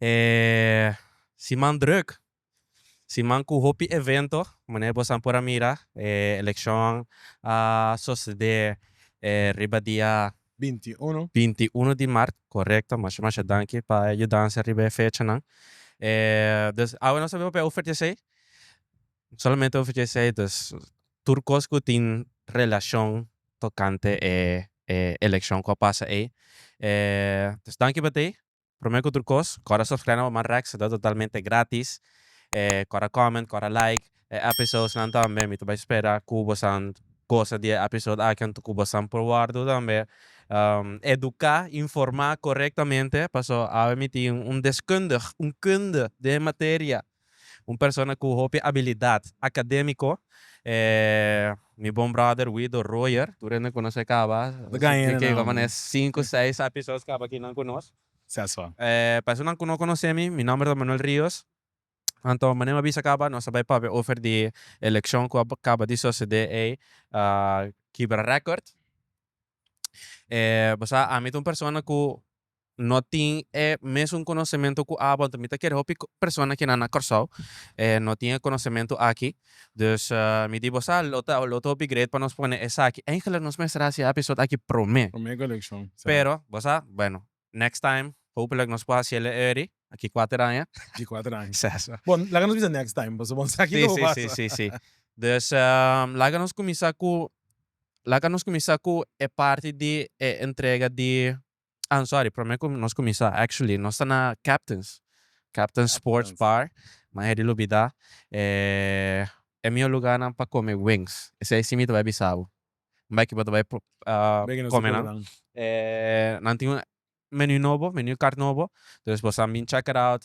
E siman drùk. Siman ku hopi evento, manera boso nan por a mira, e elekshon a sosedé riba dia. Binti uno. Binti uno di mart, korekto. Masha masha danki pa e yudansa riba e fechanan. E, dus, awe nos ta biba pa e ofertesei. Solamente hopi ke esei dus tur kos ku tin relashon tokante e elekshon ku a pasa ei. Dus danki pa tei. Promé ku tur kos kòrda subskrèna pa Manrax ta dor totalmente gratis. Kòrda kòment, kòrda like e episodsnan tambe. Mi ta bai spera ku bosan gosa di e episod aki anto ku bosan por wòrdu tambe eduká, informá korektamente paso awe mi tin un deskundig, un kunde den e materia. Un persona cu hopi abilidad academico e mi bon brother Wido Royer. Tur hende cu nos a caba e cinco, seis episodes caba aki nan cu nos. Pa esonan cu no conoce mi, mi nomber ta Manuel Rios. Anto manera mi a bisa caba nos a bay papia over di eleccion cu a caba di socede ey, a kibra record. E bo sa ami ta un persona cu no tin e mesun konosementu ku abo anto mi ta kere hopi persona kinan na Kòrsou no tin e konosementu aki dus mi di bo sa lo ta lo ta hopi great pa nos pone esaki eigenlik nos mester hasi e episode aki promé Promé kolekshon sa. pero bo sa bueno next time hopelik nos por hasiel e eri aki kuater aña Aki kuater aña sa so bon laga nos bisa next time paso bon sa ki lo si si pasa. si si si dus laga nos kuminsá ku laga nos kuminsá ku e parti di e entrega di Ah sorry, prome ku nos kuminsá actually nos ta na Captains, Captains Sports Bar, m'a hedi lubidá e e mihó lugánan pa kome wings, esei si mi ta bai bisa bo, mi bai kiba ta bai kome nan, e nan tin un menu nobo, menu kart nobo, dus bo sa bin check it out,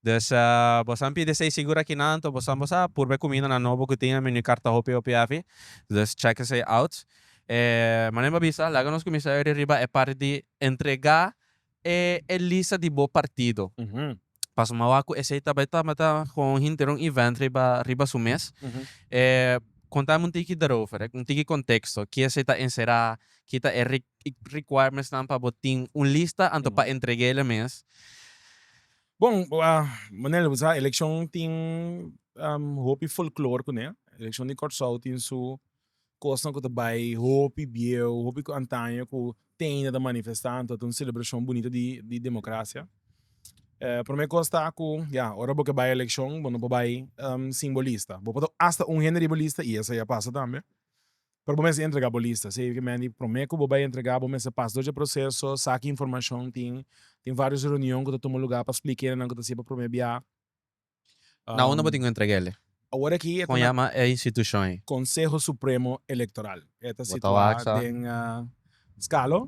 Dus, bosan pidi esei sigur aki nan to bosan bo sa purba e kumindanan nobo ku tin e menu karta hopi hopi afi. Dus chèk esei out. E manera mi a bisa, laga nos kuminsá yori riba e parti di entregá e e lista di bo partido. Pasobra mi a wak ku esei ta bai tabata kon un hinterun event riba riba su mes. E kontáme un tiki daarover, un tiki konteksto. Ke esei ta enserá, ke ta e requirements nan pa bo tin un lista anto pa entreg'é la mes. Bon, Manel, bo sa, elekshon tin hopi folklor kuné. Elekshon di Kòrsou tin su kosnan ku ta bai hopi bieu, hopi ku antaño ku teinda ta manifestá, anto ta un selebrashon bunito di demokrasia. E promé kos ta ku, ya, ora bo ke bai elekshon bo no por bai sin bo lista. Bo por ta asta un hende riba lista i esei a pasa tambe. Pero bo mester entrega bo lista, sey ke men di prome ku bo bai entrega bo mester pasa dor dje proseso, sa ki informashon tin, tin varios reunion ku ta tuma luga pa splika e nannan ku ta siña pa prome bia. Na unda bo tin ku entrega ele? Awor aki e ta na Konseho Supremo Elektoral, e ta situa den Skalo,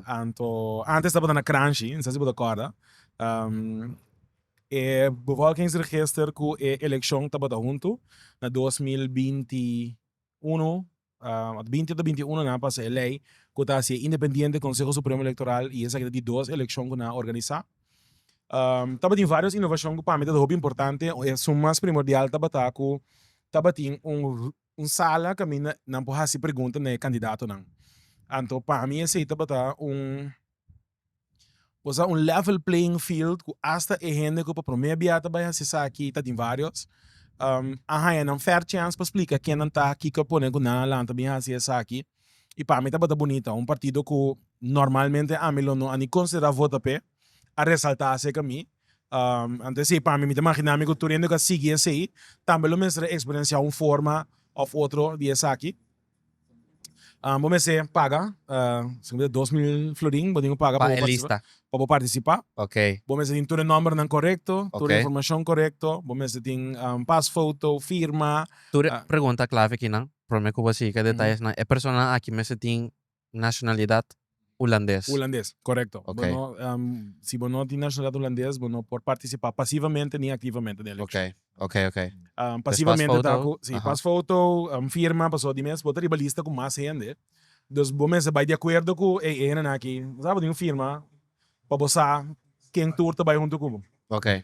anto antes tabata na Kranshi, no sé si bo ta kòrda, e Bevolkingsregister ku e elekshon tabata huntu na dos mil binti uno a binti ota binti uno nan pasa e lei ku ta hasi e independiente Conseho Supremo Electoral i esaki ta di dos elekshon ku nan a organisá. Tabatin vários inovashon ku pami ta hopi importante un esun mas primordial tabata ku tabatin un un sala kaminda nan por hasi pregunta na e kandidatonan anto pami esei tabata un Bo sa un level playing field ku asta e hende ku pa promé bia ta bai hasi esaki ta den varios a haña nan fair chance pa splika ken nan ta kiko a pone ku nan a lanta bin hasi esaki i pa mi tabata bunita un partido ku normalmente ami lo no a ni konsiderá vota p'e a resaltá aserka mi anto esei pa mi mi ta imaginá mi ku tur hende ku a sigui esei tambe lo mester a eksperensiá un forma òf otro di esaki. bo mester paga esempel dos mil florin bo tin paga pa participa pa bo participa bo mester tin tur e nombernan correcto tur e informacion correcto bo mester tin pas foto firma tur e pregunta clave akinan prome cu bo a siga ca detayesnan e personanan aki mester tin nacionalidad Hulandes? Hulandes, correcto. Bo no, si bo no tin nacionalidad Hulandes bo no por participa pasivamente ni activamente den eleccion. Ok, ok, ok. Pasivamente ta cu, si, pas foto, firma, pasobra di mes bo ta riba lista cu mas hende, dus bo mester bay di acuerdo cu ey, e hendenan aki, bo sa bo tin un firma, pa bo sa ken tur ta bai huntu ku bo. Okay.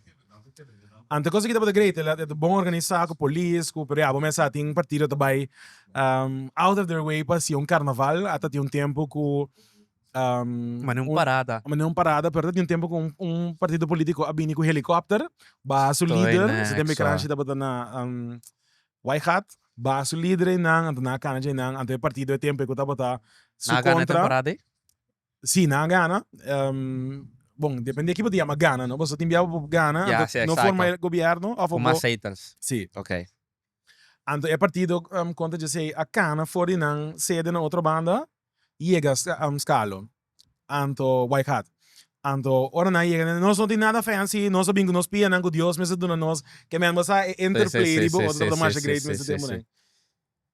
Ante kos aki tabata great, e ta bon organisa ku polis, ku, pero ya bo mester a tin partido ta bai out of their way pa haci un carnaval, a ta tin un tempo ku Mane un parada. Mane un parada, pero a ta tin un tempo ku un partido politico a bini ku helicopter, baha su lider, esaki tempo e kranshi tabata na White Hat, baha su lider einan, anta nan a kana dje einan, ante e partido e tempo ei ku tabata su kontra. Nan a gana e temporada ei? Sí, nan a gana. Bon, depende di ki bo ta yama gana, no? Pasobra tin bia ku bo por gana, anto no forma e gobièrnu òf bo. Ku mas zetels. Sí. Ok. Anto e partido kontra JC a kana for di nan sede na otro banda yega Scalo, anto White Hat. Anto ora nan yega den, nos no tin nada fancy, nos a bin ku nos pianan ku Dios mester duna nos, ke men bo sa e interplay di bo otro tabata masha great mester tempu den.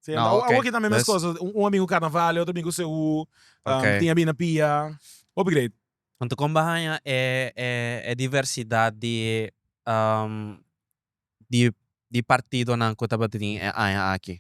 Sí, No, awor, ok. awor kita mi mes Dus- cosas. Un, un amigo carnaval, otro amigo CU, um, Ok. tinha bina pia. Hopi great. Anto kon bo haña e e e diversidad di ehm di di partidonan ku tabatin e aña aki?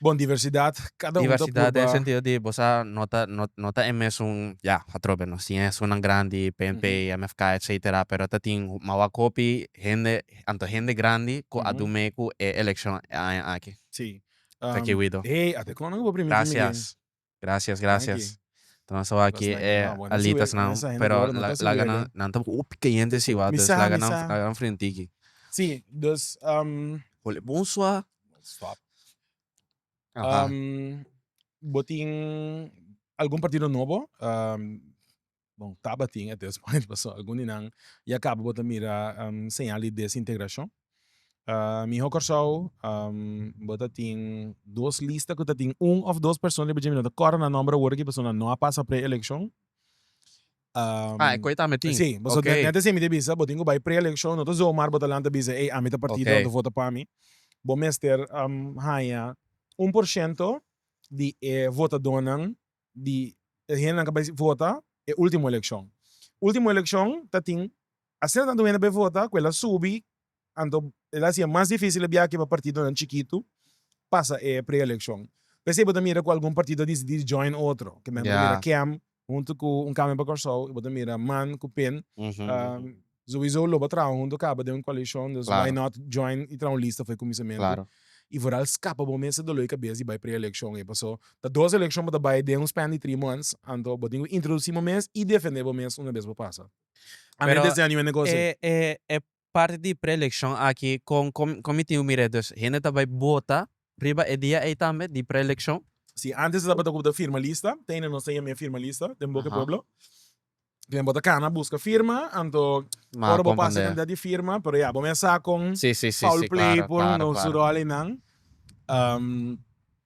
Bon, diversidad, cada un ta Diversidad den purba. sentido di bo sa no ta no no ta e mesun ya atrobe nos tin esunnan grandi, PNP, MFK, etcetera, pero tatin mawak hopi hende, Anto hende grandi ku a dun mee ku e elekshon e aña aki. Sí. Taki Wido. Hey, ate kon nan ku bo primiti mi den. Grasias. Grasias, grasias. Ta nos tabata aki e alitasnan, pero laga nan, nan ta hopi kayente siwa, dus laga nan, laga nan frentiki. Sí, dus, Holi bon suaw. Suaw. Bo tin algun partido nobo? Bon, tabatin at this point paso algun di nan ya cabo bo ta mira señal di desintegracion. Miho Corsou bo ta tin dos lista cu ta tin un of dos persona riba dje mi no ta corda nan nomber awor aki paso nan no a pasa pre-eleccion. Ah e cu e tambe tin? Si, paso nete así mi ta bisa, bo tin cu bay pre-eleccion no ta zomaar bo ta lanta bisa ey ami ta partido nan ta vota pa mi, bo mester haña un por shento di e votadonan di e hendenan ku bai vota e ultimo elekshon. Ultimo elekshon ta tin asina tantu hende bai vota ku el a subi, anto el a hasi e mas difisil biaha pa partidonan chikitu pasa e preelekshon. P'esei bo ta mira ku algun partido a disidi di join otro. Bo ta mira kèm huntu ku Un Cambio pa Kòrsou, i bo ta mira man ku pen. Zoizo lo bo a traha hunto caba den un coalition dus why not join y traha un lista fo'i cumisamento y for al scapa bo mester dolo'i cabeza y bay pre-eleccion ey paso ta dos eleccion bo ta bay den un span di three months anto bo tin cu introduci bo mes y defende bo mes una bes bo pasa amen desde año e negocio e parti di pre-eleccion aki con con mi tin cu mira dus hende ta bay bota riba e dia ey tambe di pre-eleccion? Si antes ta tabata cu bo ta firma lista ta hende nos ta yama e firma lista den boca e pueblo. Bien bo ta cana busca firma anto ora bo pasa cantidad di firma pero ya bo mey a sa con foul play por undon su rol y nan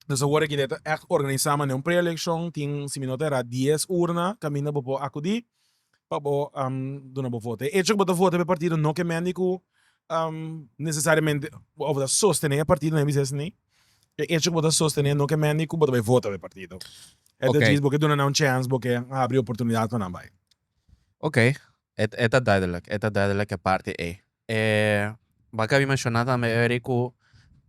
nos awor aki ta echt organisa manera un pre eleccion tin simi no ta era dies urna caminda bo por acudi pa bo duna bo voto e hecho cu bo ta voto pa e partido no ke mende cu necesariamente of ta sostene e partido nan e bisec asina. E echo ku bo ta sostené no ke mendi ku bo ta bai vota pa e partido. E ta djis bo ke duna nan un chèns, bo ke habri oportunidat pa nan bai. Ok, e ta duidelijk, e ta duidelijk e parti ei. E bo kabi menshoná tambe eri ku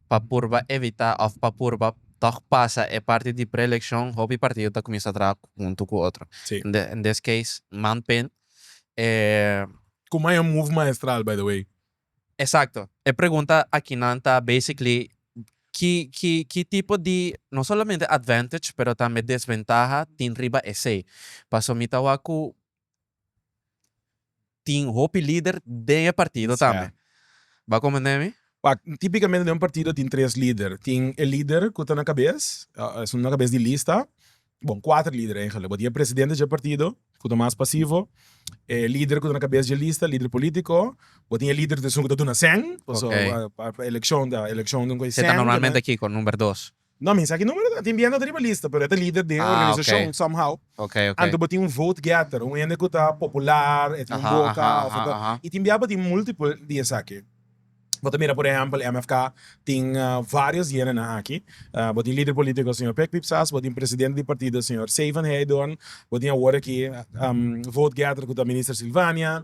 pa purba evitá òf pa purba tòg pasa e parti di preelekshon hopi partido ta kuminsá traha huntu ku otro. In this case Manpen e. Ku Maya move maestral by the way. Exacto. E pregunta akinan ta basically ki ki ki tipo di no solamente advantage pero tambe desventaha tin riba esey. Paso mi ta wak ku tin hopi lider den e partido tambe. Bo a komprende mi? Wak, tipikamente den un partido tin tres lider. Tin e lider ku ta na kabes, esun na kabes di lista. Bon, kuater lider eigentlek, bo tin e presidente dje partido ku ta mas pasivo, e lider ku ta na kabes dje lista, lider politiko, bo tin e lider di esun ku ta duna sèn, paso pa elekshon ta elekshon den ku e sèn. Esei ta normalmente kiko? Number dos? No, mi sa ki numero dos, a tin bienta ta riba lista, pero e ta lider di e organisashon somehow. Anto bo tin un vote getter, un hende ku ta popular, e tin un boka, i tin bia bo tin multiple di esaki. Bo ta mira por ehempel MFK tin varios diénenan aki, bo tin lider polítiko señor Pek Pip Sas, bo tin presidente di partido señor Sey van Heijdorn, bo tin awor aki vote getter ku ta Minister Silvania,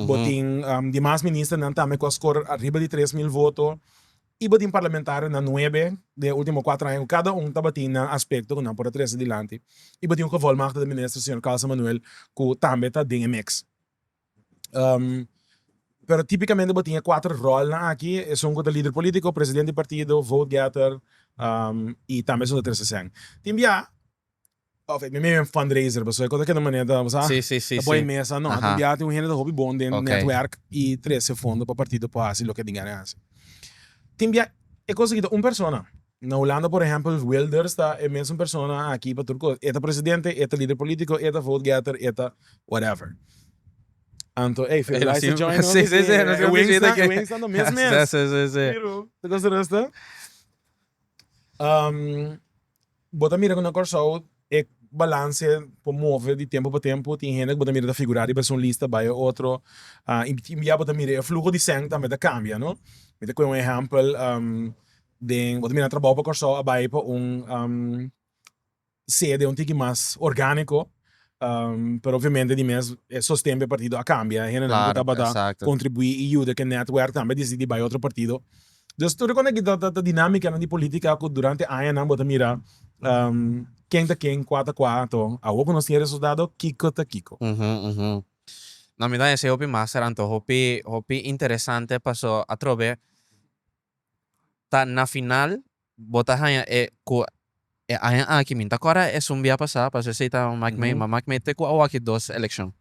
bo tin di mas ministernan tambe ku a skor ariba di tres mil voto i bo tin parlamentarionan nuebe den e último kuater aña ku kada un tabatin nan aspekto ku nan por a trese dilanti i bo tin un gevolmagtigde minister señor Carlson Manuel ku tambe ta den e mix. pero tipikamente bo tin e kuater rolnan aki esun ku ta lider politiko, presidente di partido, vote getter i tambe esun ta trese sèn. Tin bia òf e mimei un fundraiser pasobra e kos ta keda manera ta bo sa ta bo e mesa no tin bia tin un hende ta hopi bon den netwerk i trese fondo pa partido por hasi loke tin gana hasi tin bia e kos aki ta un persona. Na Hulanda por ehempel, Wilders ta e mesun persona aki pa tur cos. E ta presidente, e ta lider politico, e ta vote getter, e ta whatever. Anto, ey, Firulais ta join nos aki. Sí, sí, sí, nos e wings ta, e wings ta no mes mes. Sí, sí, sí. Pero, ta cos ta resta. Um, bo ta mira cu na Corsou E balanse por move di tempu pa tempu, tin hende ku bo ta mira ta figurá riba esun lista bai e otro tin bia bo ta mira e fluho di sèn tambe ta kambia no, mi ta kue un ehèmpel den bo ta mira trabou pa Kòrsou a bai pa un sede un tiki mas orgániko pero obviamente di mes e sosten pa e partido a kambia e hendenan ku tabata kontribuí i yuda ku e nètwèrk tambe a disidi bai otro partido. Nos tur a kone'ki ta ta dinamikanan di politika ku durante añanan bo ta mira ken ta ken, kua ta kua, to awor ku nos tin e resultado kiko ta kiko. No, mi ta esei hopi mas Serando. Hopi hopi interesante paso atrobe ta na final bo ta haña e ku e aña aki mi ta kora esun bia pasa paso esei ta maki mi ma maki mi te ku awor aki dos elekshon.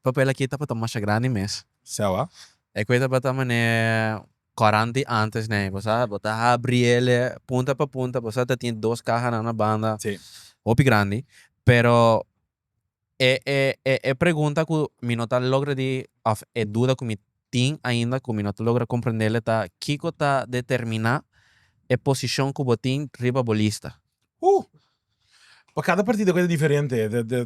Papel aki tabata masha grandi mes. Sewa. E koe tabata manera kòran di antes nei. Bo sa bo ta habri el'e punta pa punta. Bo sa ta tin dos kaha na una banda. Si. Hopi grandi. Pero e e e pregunta ku mi no ta logra di òf e duda ku mi tin ainda ku mi no ta logra komprendel ta kiko ta determiná e posishon ku bo tin riba bo lista. Ho! Pa kada partido keda diferente.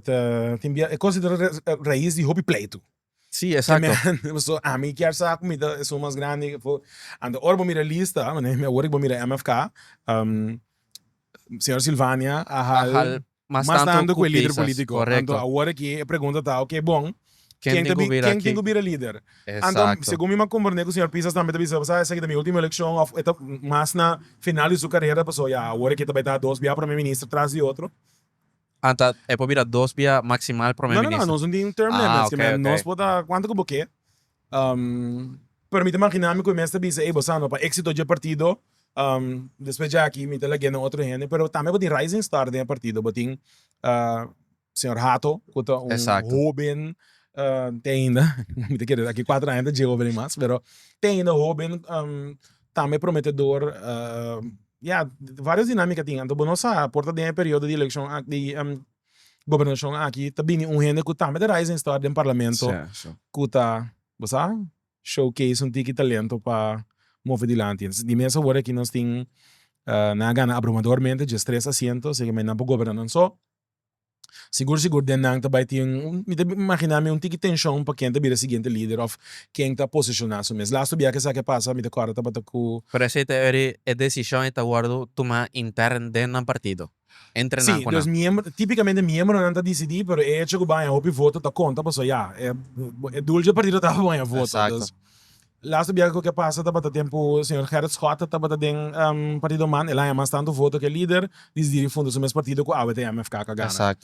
Ta tin bia e kos ta rais di hopi pleitu. Sí, exacto. Pasobra ami kier sa ku mi ta esun mas grandi ke afu. Anto ora bo mira e lista, mi awor ke bo mira MFK, señor Silvania a hal. mas tanto ku e lider politico. Anto awor aki e pregunta ta ok bon ken ta bi ken tin ku bira lider? Anto segun mi m'a komprende ku señor Pisas tambe ta bisa sa esaki ta mi ultimo elekshon of e ta mas na final di su karera paso ya awor aki ta bai ta dos bia prome minister tras di otro. Anta e por bira dos bia maksimal prome minister? No no no nos no tin term limits kimen nos por ta kuantu ku bo ke Permite maginami cu e mes ta bisa, ey bosa no, pa exito dje partido, despues dje aki mi ta lagu'e na otro hende, pero tambe bo tin rising star den e partido, bo tin señor Hato cu ta un hoben, tin ainda, mi ta kere daki cuatro aña ta dje hoben ey mas, pero tin ainda hoben, tambe prometedor, ya, varios dinamica tin, anto bo no sa por ta den e periodo di eleccion aki. gobernashon aki ta bini un hende ku tambe ta rising star den parlamento ku ta bo sa show case un tiki talento pa move dilanti entonces di mesa wor aki nos tin nan a gana abrumadormente dje stres asiento aseki nan por goberna nan so sigur sigur den nan ta bai tin un mi ta imagina mi un tiki tenshon pa ken ta bira siguiente lider òf ken ta poseshona su mes lastu biaha esaki a pasa mi ta kòrda tabata ku. Pero esei ta ora e desishon ei ta wòrdu tumá interno den nan partido. entrená ku nan. Si, típikamente miembronan ta disidí, pero e echo ku bo haña hopi voto ta konta pasobra ya, e dul dje partido tabata bo haña voto. Dus, lastu biaha ku ke pasa tabata tempu señor Gerrit Schotten tabata den Partido Man, el a haña mas tantu voto ke lider, disidí di funda su mes partido ku awe ta e MFK ku a gana.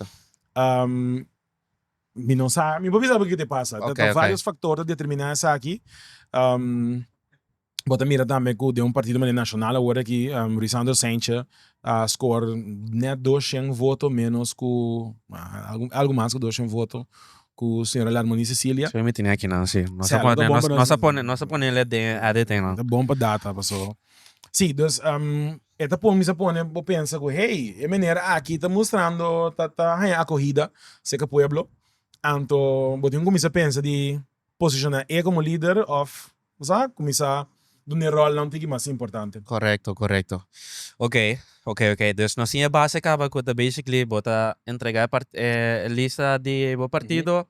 Mi no sa, mi por bisa bo kiko ta pasa, ta vários faktor ta determiná esaki. Bo ta mira tambe cu den un partido manera Nacional awor aki Ruysandro Saintje a score net dos shen voto menos cu algo mas cu dos shen voto cu señora Larmony Cecilia. Esaki mi tenia aki nan si. Nos a pone nos a pone nos a pone el den e editing nan. Ta bon pa data paso si dus e ta pon mi sa pone bo pensa cu hey e meneer aki ta mustrando ta ta haya acogida cerca pueblo anto bo tin cu cuminsa pensa di posiciona e como lider of Nos a kuminsá duna e ròlnan tin ki mas importante. Korekto, korekto. Ok, ok, ok. Dus nos tin e base kaba ku ta basically bo ta entregá e part, e lista di bo partido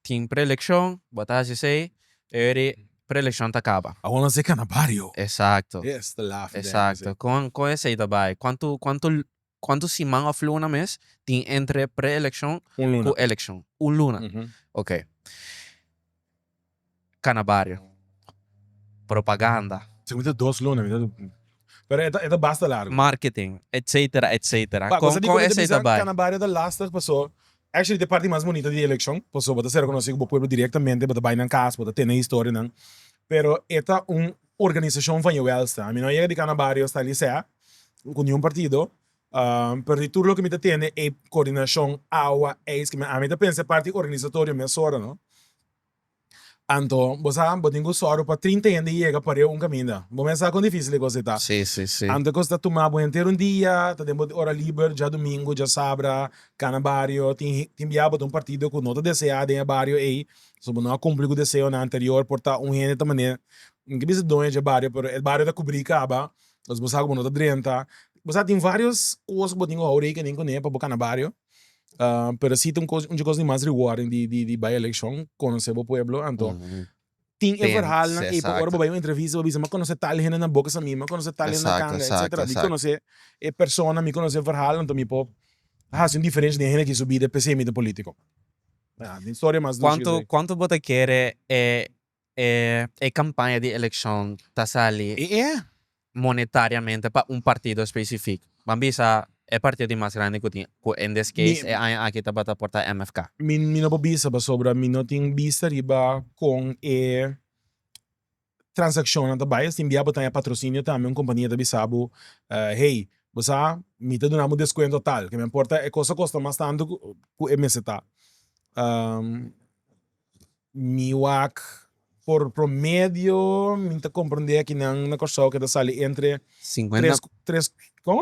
tin preelekshon, bo ta hasi esei, e ora ei preelekshon ta kaba. Awor nos a kana bario. Esakto. Yes, ta laf den esei. Esakto. Kon kon esei ta bai? Kuantu kuantu Cuanto siman of luna mes tin entre pre-eleccion cu eleccion? Un luna. Ok. Cana bario. Propaganda. Si mi ta dos luna mi ta di. Pero e ta basta largo. Marketing etc. Etc. Con esey ta bay. Cana bario ta lastig paso actually ta e parti mas bonito di eleccion paso bo ta ser reconoci cu bo pueblo directamente bo ta bay nan cas bo ta tene historianan pero e ta un Organisashon van e wèlsta. Ami no a yega di kana bario sta lisè ku niun partido, pero di tur loke mi ta tene e koordinashon awa eis ke mi ami ta pensa e parti organisatorio mesora no. Anto bo sa bo tin ku sòru pa trinta hende yega pariu un kaminda. Bo mes sa kon difísil e kos ei ta. Anto e kos ta tuma bo henter un dia, ta den bo ora liber, djadumingu, djasabra, kana bario, tin tin bia bo ta un partido ku no ta deseá den e bario ei, Su bo no a cumpli cu deseonan anterior por ta un hende ta manera, mi ta bisa doña dje bario pero e bario ta cubri caba, entonces bo sa cu bo no ta drenta, bo sa tin varios cos cu bo tin cu hou rekening cune pa bo cana bario, pero si ta un cos un dje cos di mas rewarding di di di bay eleccion conoce bo pueblo anto tin e verhalnan ey pa ora bo bay un entrevista bo bisa mi a conoce tal hende na boca samí mi a conoce tal hende na canga etcetera mi conoce e persona mi conoce e verhal anto mi por haci un diferencia den hende aki su bida p'esey mi ta politico. Cuanto cuanto bo ta kere e e e campaña di eleccion ta sali monetariamente pa un partido especifico? Ban bisa e partido di mas grandi cu tin cu in this case e aña aki tabata por ta MFK. Mi mi no por bisa pasobra mi no tin bista riba con e transakshonnan ta bai, es tin bia bo ta haña patrosinio tambe, un kompania ta bisa bo, Hey, bo sa mi ta duna bo deskuento tal, ke no importa e kos a kosta mas tantu ku e mester ta, mi wak por promedio mi ta komprende aki nan na Kòrsou ke ta sali entre tres, tres, como?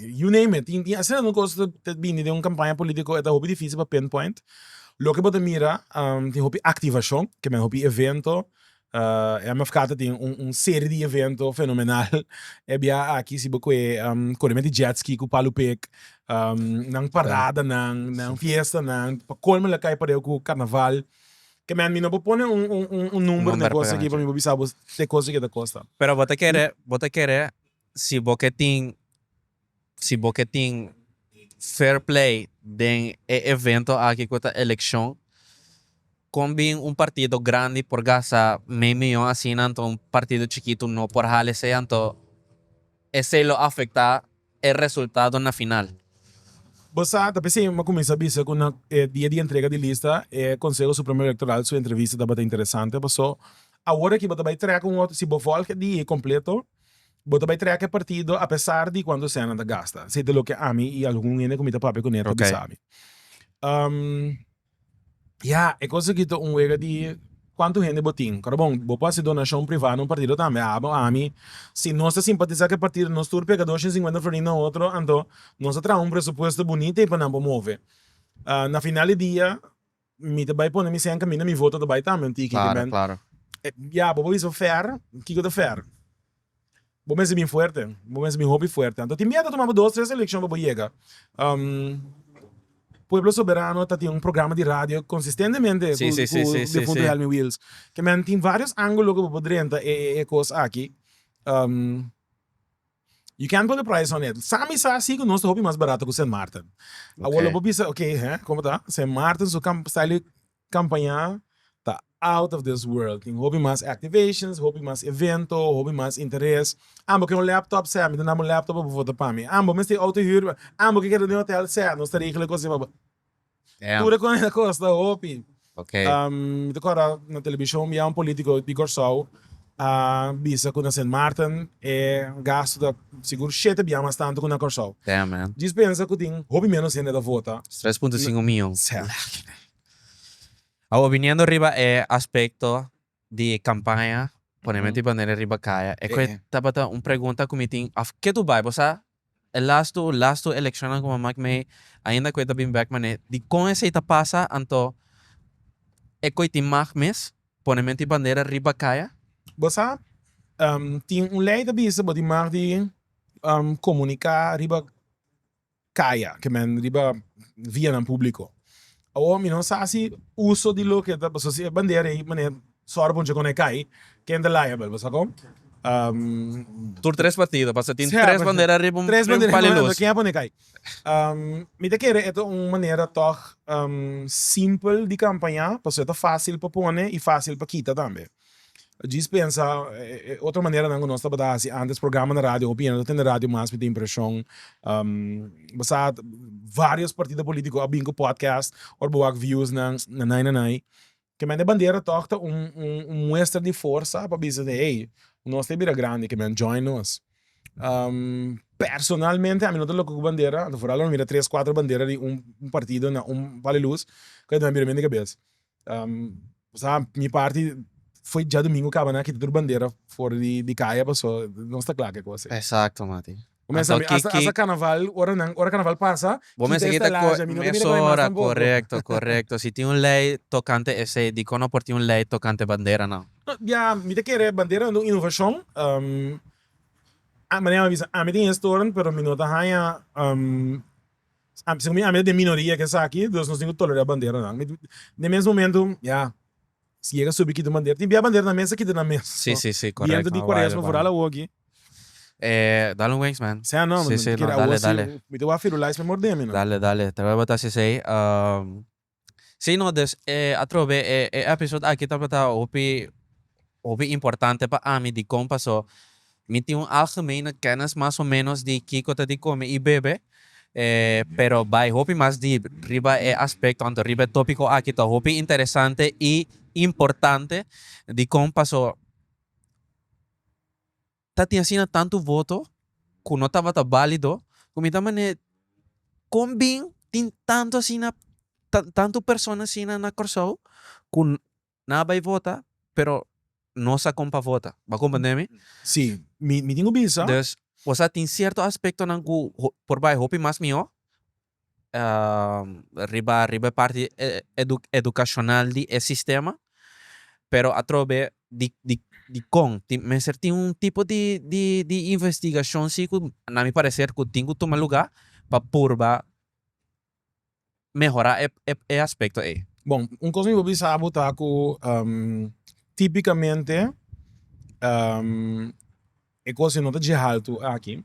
you name it tin asina nan cos ta bini den un campaña politico e ta hopi dificil pa pin point loke bo ta mira tin hopi activacion ke men hopi evento e mf kata tin un serie di evento fenomenal e bia aki si bo kue kore met di jetski ku palu pek nan parada nan nan fiesta nan pa colmo lo kai pareho ku carnaval ke men mi no por pone un number di cos aki pasobra mi por bisa bo e cos aki ta costa. si bo ke tin si bo ke tin fair play den e evento aki ku ta elekshon kon bin un partido grandi por gasta mei miyon asina nto un partido chikitu no por hala esei anto esei lo afektá e resultado na final. Bo sa ta p'esei mi a kuminsá bisa ku na e dia di entrega di lista e Konseho Supremo Elektoral su entrevista tabata interesante paso awor aki bo ta bai trèk un otro si bo vòlg e dia kompleto Bo ta bai trèk e partido apesar di kuantu Senna ta gasta, sete loke ami i algun hende ku mi ta papia kuné ta bisa mi. Ya, e kos aki ta un wega di kuantu hende bo tin. Ora bon, bo por hasi donashon privá na un partido tambe. Abo ami, si nos ta simpatisá ku e partido, nos tur pega dosha i sinkuenta florin na otro, anto nos ta traha un presupuesto bunita ei pa nan por move. Na final di dia, Mi ta bai pone mi sen caminda mi voto ta bai tambe tiki ki men ya bo bo bisa fair kiko ta fair bo mester bin fuerte bo mester bin hopi fuerte anto tin bia ta tuma bo dos tres eleccion pa bo yega pueblo soberano ta tin un programa di radio consistentemente cu difunto Helmy Wills kimen tin varios angulo cu bo por drenta e cos aki. You can't go to Praia San Edward. Sa mi sa si ku nos ta hopi mas barato ku Sint Maarten. Awor lo bo bisa, ok, hè, como ta? Sint Maarten su kam style di kampañá ta out of this world. Tin hopi mas activations, hopi mas evento, hopi mas interes. An bo ke un laptop? Sè, mi ta naba un laptop pa bo vota pa mi. An bo mester e outo hür? An bo ke keda den hotel? Sè, nos ta regla e kos ei pa bo. Tur e comida costa hopi. Mi ta corda na television bia un politico di Corsou a bisa cu na Sint Maarten e gasto ta sigur shete bia mas tanto cu na Corsou. Djis pensa cu tin hopi menos hende ta vota. Tres punto cinco mion. Awa biniendo riba e aspecto di e kampaña Pone mi di bandera riba kaya. E kue tabata un pregunta ku mi tin òf ke tu bai. Bo sa e lastu lastu elekshonnan ku bo a mak mei ainda kue ta bin bèk manera di kon esei ta pasa anto e kue tin mag mes pone mi di bandera riba kaya? Bo sa tin un lei ta bisa bo tin mag di komuniká riba. kaya ke men riba vianan públiko. Awor mi no sa si uso di loke ta paso si e bandera ei mane sòru pa un chikon na e kai ken ta liable paso kon Tur tres partido paso tin tres bandera riba un pali lus. Ken a pone kai. Mi ta kere e ta un manera tòg simpel di kampañá paso e ta fásil pa pone i fásil pa kita tambe. Djis pensa e otro maneranan ku nos tabata hasi ántes programa na radio hopi hende ta tende radio mas mi ta impreshon basa vários partido polítiko a bin ku podcast ora bo wak viewsnan nanai nanai kemente bandera tòg ta un un muestra di forsa pa bisa di hey nos ta bira grandi kemente join nos personalmente ami no ta loke ku bandera anto fural lo mi mira tres kuater bandera di un partido na un bali lus ku a bira mi den kabes. mi parti foi dja domingo kaba nan kita tur bandera for di kaya paso nos ta kla ke cosa e. Exacto mati. Bo mester sabi hasta hasta carnaval ora nan ora carnaval pasa Bo mester kita kore kita mester kita kore mas tampoco. Correcto correcto si tin un ley tocante esey dikon no por tin un ley tocante bandera nan. No bia mi ta kere bandera nan ta un innovacion manera mi a bisa ami ta historian pero mi no ta haña Así como mi ami ta den minoria ke esaki, dus nos tin cu tolera banderanan. Mi den mes momento, ya, si yega subi kita un bandera, tin bia bandera nan mester kita nan mes. Sí, sí, sí, correcto. Bienta di Cuaresma, vooral awoki. Eh, dale un wens, man. Sea no, mi ta kere awo si, mi ta wak Firulais me mordemi, no. Dale, dale. Terwel bo ta así esey, um. Sí no dus e atrobe e e episode aki tabata hopi hopi importante pa ami dikon paso mi tin un algemene kenis mas o menos di kiko ta di kome i bebe e pero bai hopi mas deep riba e aspecto anto riba e topico aki ta hopi interesante i importante dikon paso. ta tin asina tantu voto ku no tabata bálido ku mi ta manera di kon bin tin tantu asina tantu persona asina na Kòrsou ku nan a bai vota pero no sa kon pa vota bo a komprende mi? Si, mi tin ku bisa. Dus, ku a tin sierto aspektonan ku por bai hopi mas mihó. riba riba e parti educacional di e sistema pero atrobe di di di con tin mester tin un tipo di di di investigacion si cu na mi parecer cu tin cu tuma lugar pa purba mehora e aspecto ey. Bon un cos mi por bisa bo ta cu tipicamente. E cosa no ta dje haltu aki,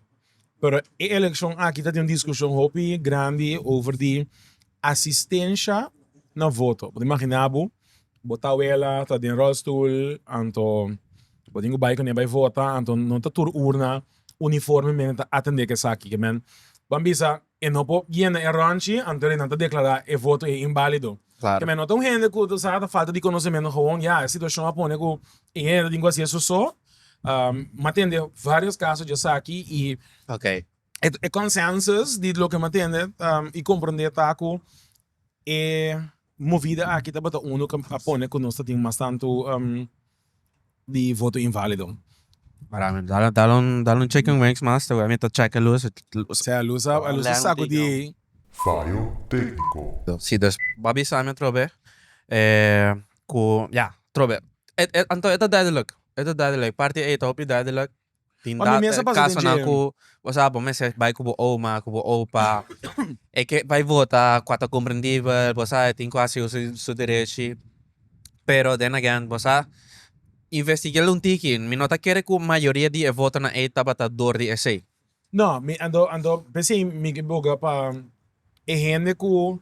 pero e eleccion aki ta den un discusion hopi grandi over di asistencia na voto. Bo ta imagina bo, bo tawela ta den rolstoel anto bo tin cu bay cun'e bay vota anto no ta tur urna uniformemente ta atende cu esaki. Bo a bisa E no por yena e rònchi, anto e nan ta deklará e voto ei inválido. Te me nota un hende ku ta sa ta falta di konosementu gewoon. Ya, e situashon a pone ku e hende ta tin ku hasi eso so. Mi a tende vários kaso dje esaki i e kònsensus di loke mi a tende i komprondé ta ku e. Movida aki tabata unu cu a pone cu nos ta tin mas tantu di voto invalido. Paramental dal un chicken wings mas te wea mi ta checa luz. Sea luz a sacudi. Fallo tecnico. Si dus bo a bisa mi otro be cu ya otro be. Anto e ta duidelijk e ta duidelijk parti ey ta hopi duidelijk Tin Pa mi mester dat pasa den casonan dje. cu bo sa bo mester bay cu bo oma, cu bo opa. E ke bay vota cua ta comprendibel, bo sa e tin cu haciu su su derechi. Pero then again bo sa investiguel un tiki, mi no ta kere cu mayoria di e votonan ey tabata door di esey. No, mi ando ando p'esei mi ke boga pa e hende ku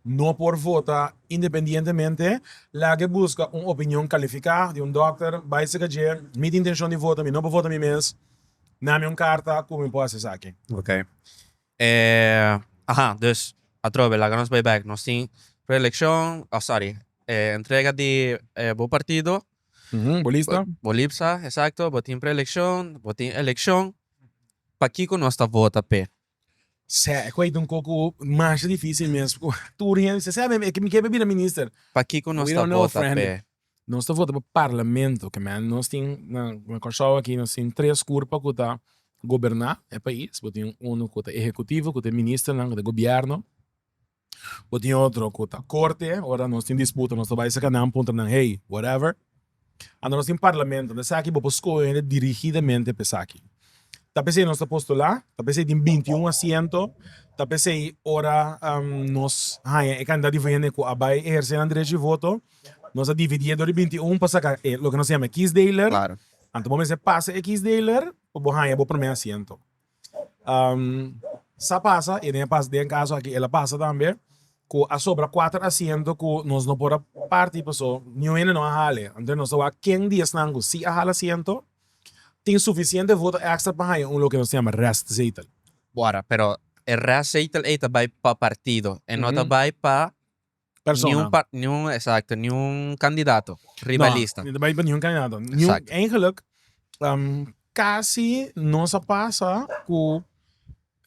no por vota independientemente laga buska un opinion kalifiká di un dòkter, bai sega dje mi tin intenshon di vota, mi no por vota mi mes, na mi un karta ku mi por hasi esaki. Ok. E aha, dus atrobe laga nos bai bèk. Nos tin preelekshon, oh sorry, e entrega di e bo partido Bo lista? Bo lipsa, esakto. Bo tin preelekshon, bo tin elekshon. Pakiko nos ta vota p'e? Sè, e kwait un koku masha difísil mes ku tur hende ta sè, mi ke pa bira minister. Pakiko nos ta vota p'e? Nos ta vota pa parlamento, ke men nos tin na Kòrsou aki nos tin tres kurpa ku ta goberná e pais. Bo tin unu ku ta ehekutivo, ku ta e ministernan, ku ta e gobièrnu. Bo tin otro cu ta corte, ora nos tin disputa nos ta bay saca nan, puntra nan hey, whatever. Anda nos tin parlamento, unda esaki bo por scoge hende dirigidamente pa esaki. Ta pesey nos ta postula, ta pesey tin binti un asiento, ta pesey ora nos haya e cantidad di hende cu a bay eherce nan derecho di voto, nos a dividi e dor di binti un pa saca e loke nos ta yama e kiesdeler, anto bo mester pasa e kiesdeler pa bo haya bo prome asiento. sa pasa y den e pas den caso aki el a pasa tambe cu a sobra cuater asiento cu nos no por a parti paso ni un hende no a hala e anto nos ta wak ken di esnan cu si a hala asiento tin suficiente voto extra pa haya un loke nos ta yama restzetel. Bo ara pero e restzetel ey ta bay pa partido e no ta bay pa persona. Ni un par, ni un, exacto, ni un candidato riba no, lista. No, riba ningún candidato. Ni un, eigenlijk, um, casi no sa pasa cu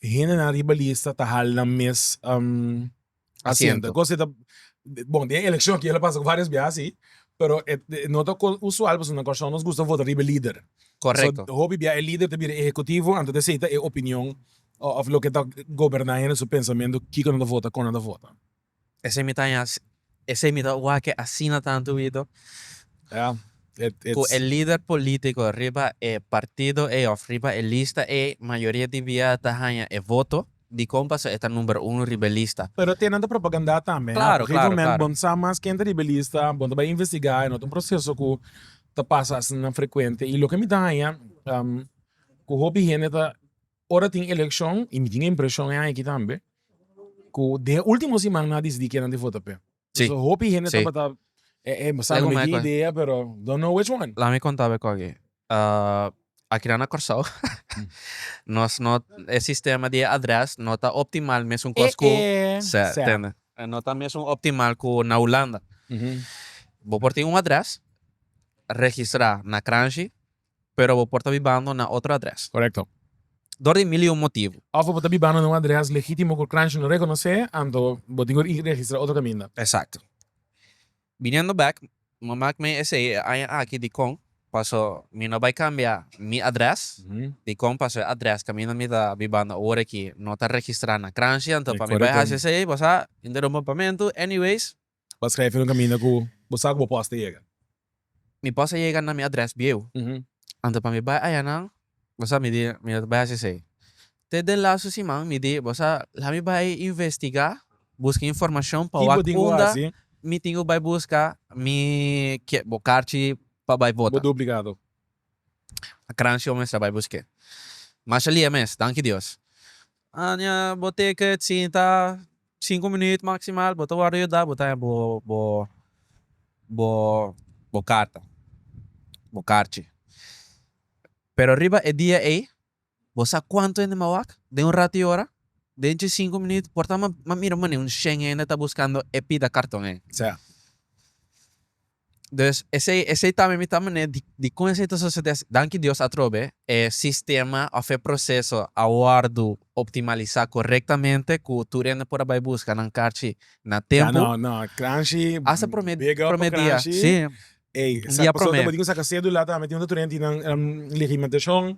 hende na riba lista ta hal nan mes um, asiento. Cos ta, bon, den eleccion kiela pasa varios biaha si, pero e no ta cos usual pasobra na Corson nos gusta vota riba e lider. Correcto. So, hopi biaha e lider ta bira e ejecutivo anto ta ceta e opinion of loke ta goberna hende su pensamento kico nan ta vota, con nan ta vota. Esei mi ta haña, esei mi ta wak-e asina tantu bido. Ja, e, e. Ku e lider polítiko riba e partido ei òf riba e lista ei mayoria di bia ta haña e voto, dikon paso e ta number uno riba e lista? Pero te nan ta propagandá tambe, ha? Klaro, klaro, klaro. Op un gegeven moment bo sa mas ken ta riba e lista, bo ta bai investigá, e no ta un proseso ku ta pasa asina frekuente. I loke mi ta haña, ku hopi hende ta Ora tin elekshon i mi tin e impreshon e aña aki tambe ku den e último siman nan a disidí kinan di vota p'e. Sí. So hopi hende Sí. tabata e e sa Lei no me mekí ku- idea pero don't know which one. Laat me konta be kogi. Akinan na Kòrsou nos no e sistema di e adrès no ta optimal mesun kos ku Sè, Sè. tende. No ta mesun optimal ku na Hulanda. Bo por tin un adrès registrá na Kranji, Pero bo por ta bibando na otro adrès. Korekto. Dor di mil i un motibu. Òf bo ta bibando na un adrès legítimo ku Crunch lo rekonosé, anto bo tin por registrá otro kaminda. Eksakto. Biniendo bèk, mi a mak mei esei e aña aki dikon paso mi no bai kambia mi adrès, dikon paso e adrès kaminda mi ta bibando awor aki no ta registrá na Crunch, anto pa mi bai hasi esei bo sa, interumpa pamentu, anyways, Bo skrèf e lo kaminda ku bo sa ku bo pòs ta yega. Mi pòs a yega na mi adrès bieu. Anto pa mi bai ayanan, bo sa mi di mi no ta bai hasi esei. Te den lastu siman mi di bo sa laha mi bai investigá, buska informashon pa wak unda mi tin ku bai buska mi ke bo karchi pa bai vota. Bo duplikado. A kranshi bo mester a bai busk'é. Masha lia mes, danki Dios. Aña bo teke sinta sinku minuut maksimal bo ta wòrdu yuda bo ta haña bo bo bo bo karta bo karchi pero riba e dia ei bo sa kuantu hende m'a wak den un ratu i ora? den chi sinku minuut por ta m'a mira un shen hende ta buskando e pida karton ei sea. Dus esei esei tambe mi ta manera di di kon esei ta sosodé asi. Danki Dios atrobe e sistema òf e proseso a wòrdu optimalisá korektamente ku tur hende por a bai buska nan karchi na tempu. Ya na na kranshi Hasta promé bega òf promé dia, kranshi. si. Ey Un sa dia pasobra promé. bo tin ke saka sedula tambe tin unda tur hende tin nan em legimatashon.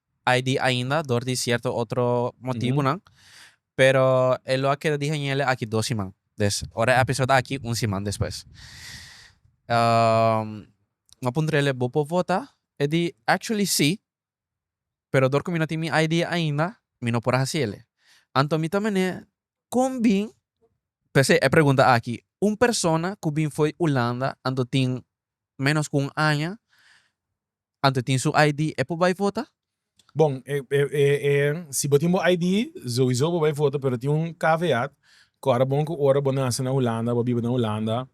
ai di ainda dor di cierto otro motibunan pero e lo a keda di hañele aki dos siman des ora e episode aki un siman despues mi a puntrele bo por vota e di actually si pero dor cu mi no tin mi ID ainda mi no por a hacele anto mi ta mene con bin p'esei e pregunta aki un persona cu bin fo'i Hulanda anto tin menos cu un aña Ante tin su ID e por bai vota? Bon, si bo tin bo ID, sowiso bo bai vota, pero tin un caveat, cu ora bon cu ora bo nace na Hulanda, bo biba na Hulanda,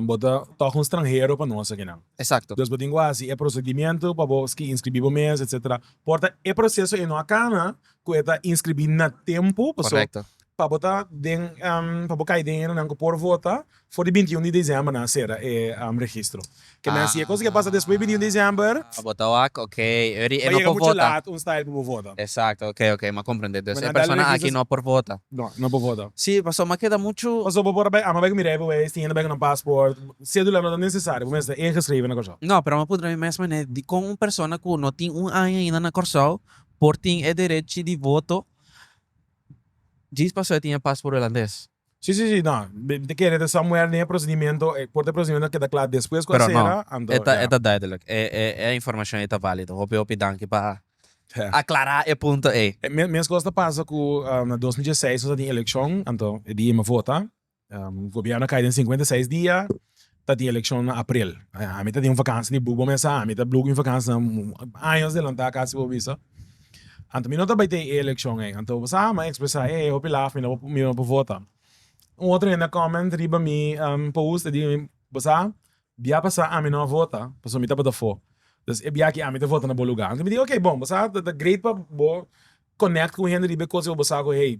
bo ta toch un stranhero pa nos akinan. Exacto. Dus bo tin cu haci e procedimento pa bo inscribi bo mes, etcetera. Por ta e proceso ei no a cana, cu e ta inscribi na tempo, paso pa bo ta den pa bo cay den hendenan cu por vota for di binti un di december nan a cera e registro. Ke nan si e cosa ke pasa despues binti un december, a bota wak ok eri e no por vota un style pa bo vota. Exacto ok ok m'a comprende dus e persona aki no por vota. No no por vota. Si paso m'a keda mucho. Paso bo por a bay a m'a bay cu mira e bo wes tin hende bay cu nan passport cedula no ta necesario bo mester ta ingeschreven na Corsou. No pero m'a puntra mi mes manera di con un persona cu no tin un aña ainda na Corsou. por tin e derechi di voto djis paso e tin e pasport hulandes. Si si si, no, mi ta kere ta samuel den e procedimento, e corte procedimento a keda cla despues cu a Pero no, cera, anto e ta e ya. ta duidelijk, e e e informacion ei ta valido. Hopi hopi danki pa aclara e punto ei. E mes mes cos ta pasa cu na dos mil dieseis nos a tin eleccion, anto e di e mi a vota, Gobièrnu a kai den sinkuenta i seis dia, ta tin elekshon na aprel. Ami ta tin un vakansi di bubo mes a, ami ta bluki mi vakansi años adelantá kasi bo bisa. Anto mi no ta bai tei e elekshon ei. Anto bo sa mi a ekspresá e ei hopi laf, mi no mi no por vota. Un otro hende a kòment riba mi post, e biba mi, bo sa, bia pasá ami no a vota pasobra mi tabata afó. Entonces e biaha aki ami ta vota na bo lugá. Anto mi di, ok bon, bo sa ta great pa bo konèkt ku hende riba e kos ku bo sa ku hey.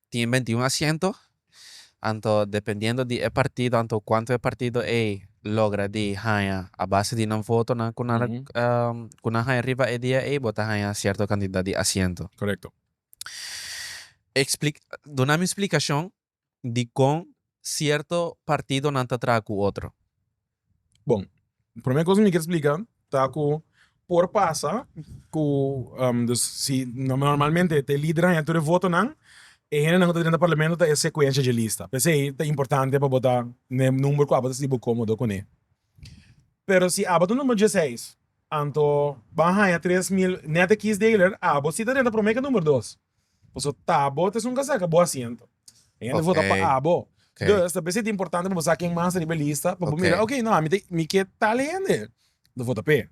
Tin beintiun asiento, anto dependiendo di e partido anto cuanto e partido ey logra di haña a base di nan votonan cu nan cu nan haña riba e dia ey bo ta haña cierto cantidad di asiento. Correcto. Explic, duna mi explicacion di con cierto partidonan ta traha cu otro. Bon, prome kos mi kier splika ta ku por pasa ku dus si normalmente e lidernan ya tur e votonan e hendenan ku ta drenta parlamento ta e sekuensha dje lista p'esei ta importante pa bo ta n'e number ku abo ta sinti bo komodo kuné. Pero si abo ta number dieseis anto ban haña tres mil nèt e kiesdeler abo si ta drenta prome ke number dos. Pasobra ta abo ta esun kasa ka bo asiento. E hende vota pa abo. Dus ta bisa e ta importante pa bo sa ken mas ta riba e lista pa bo mira, ok, no, ami ta, mi ke tal hende ta vota p'e.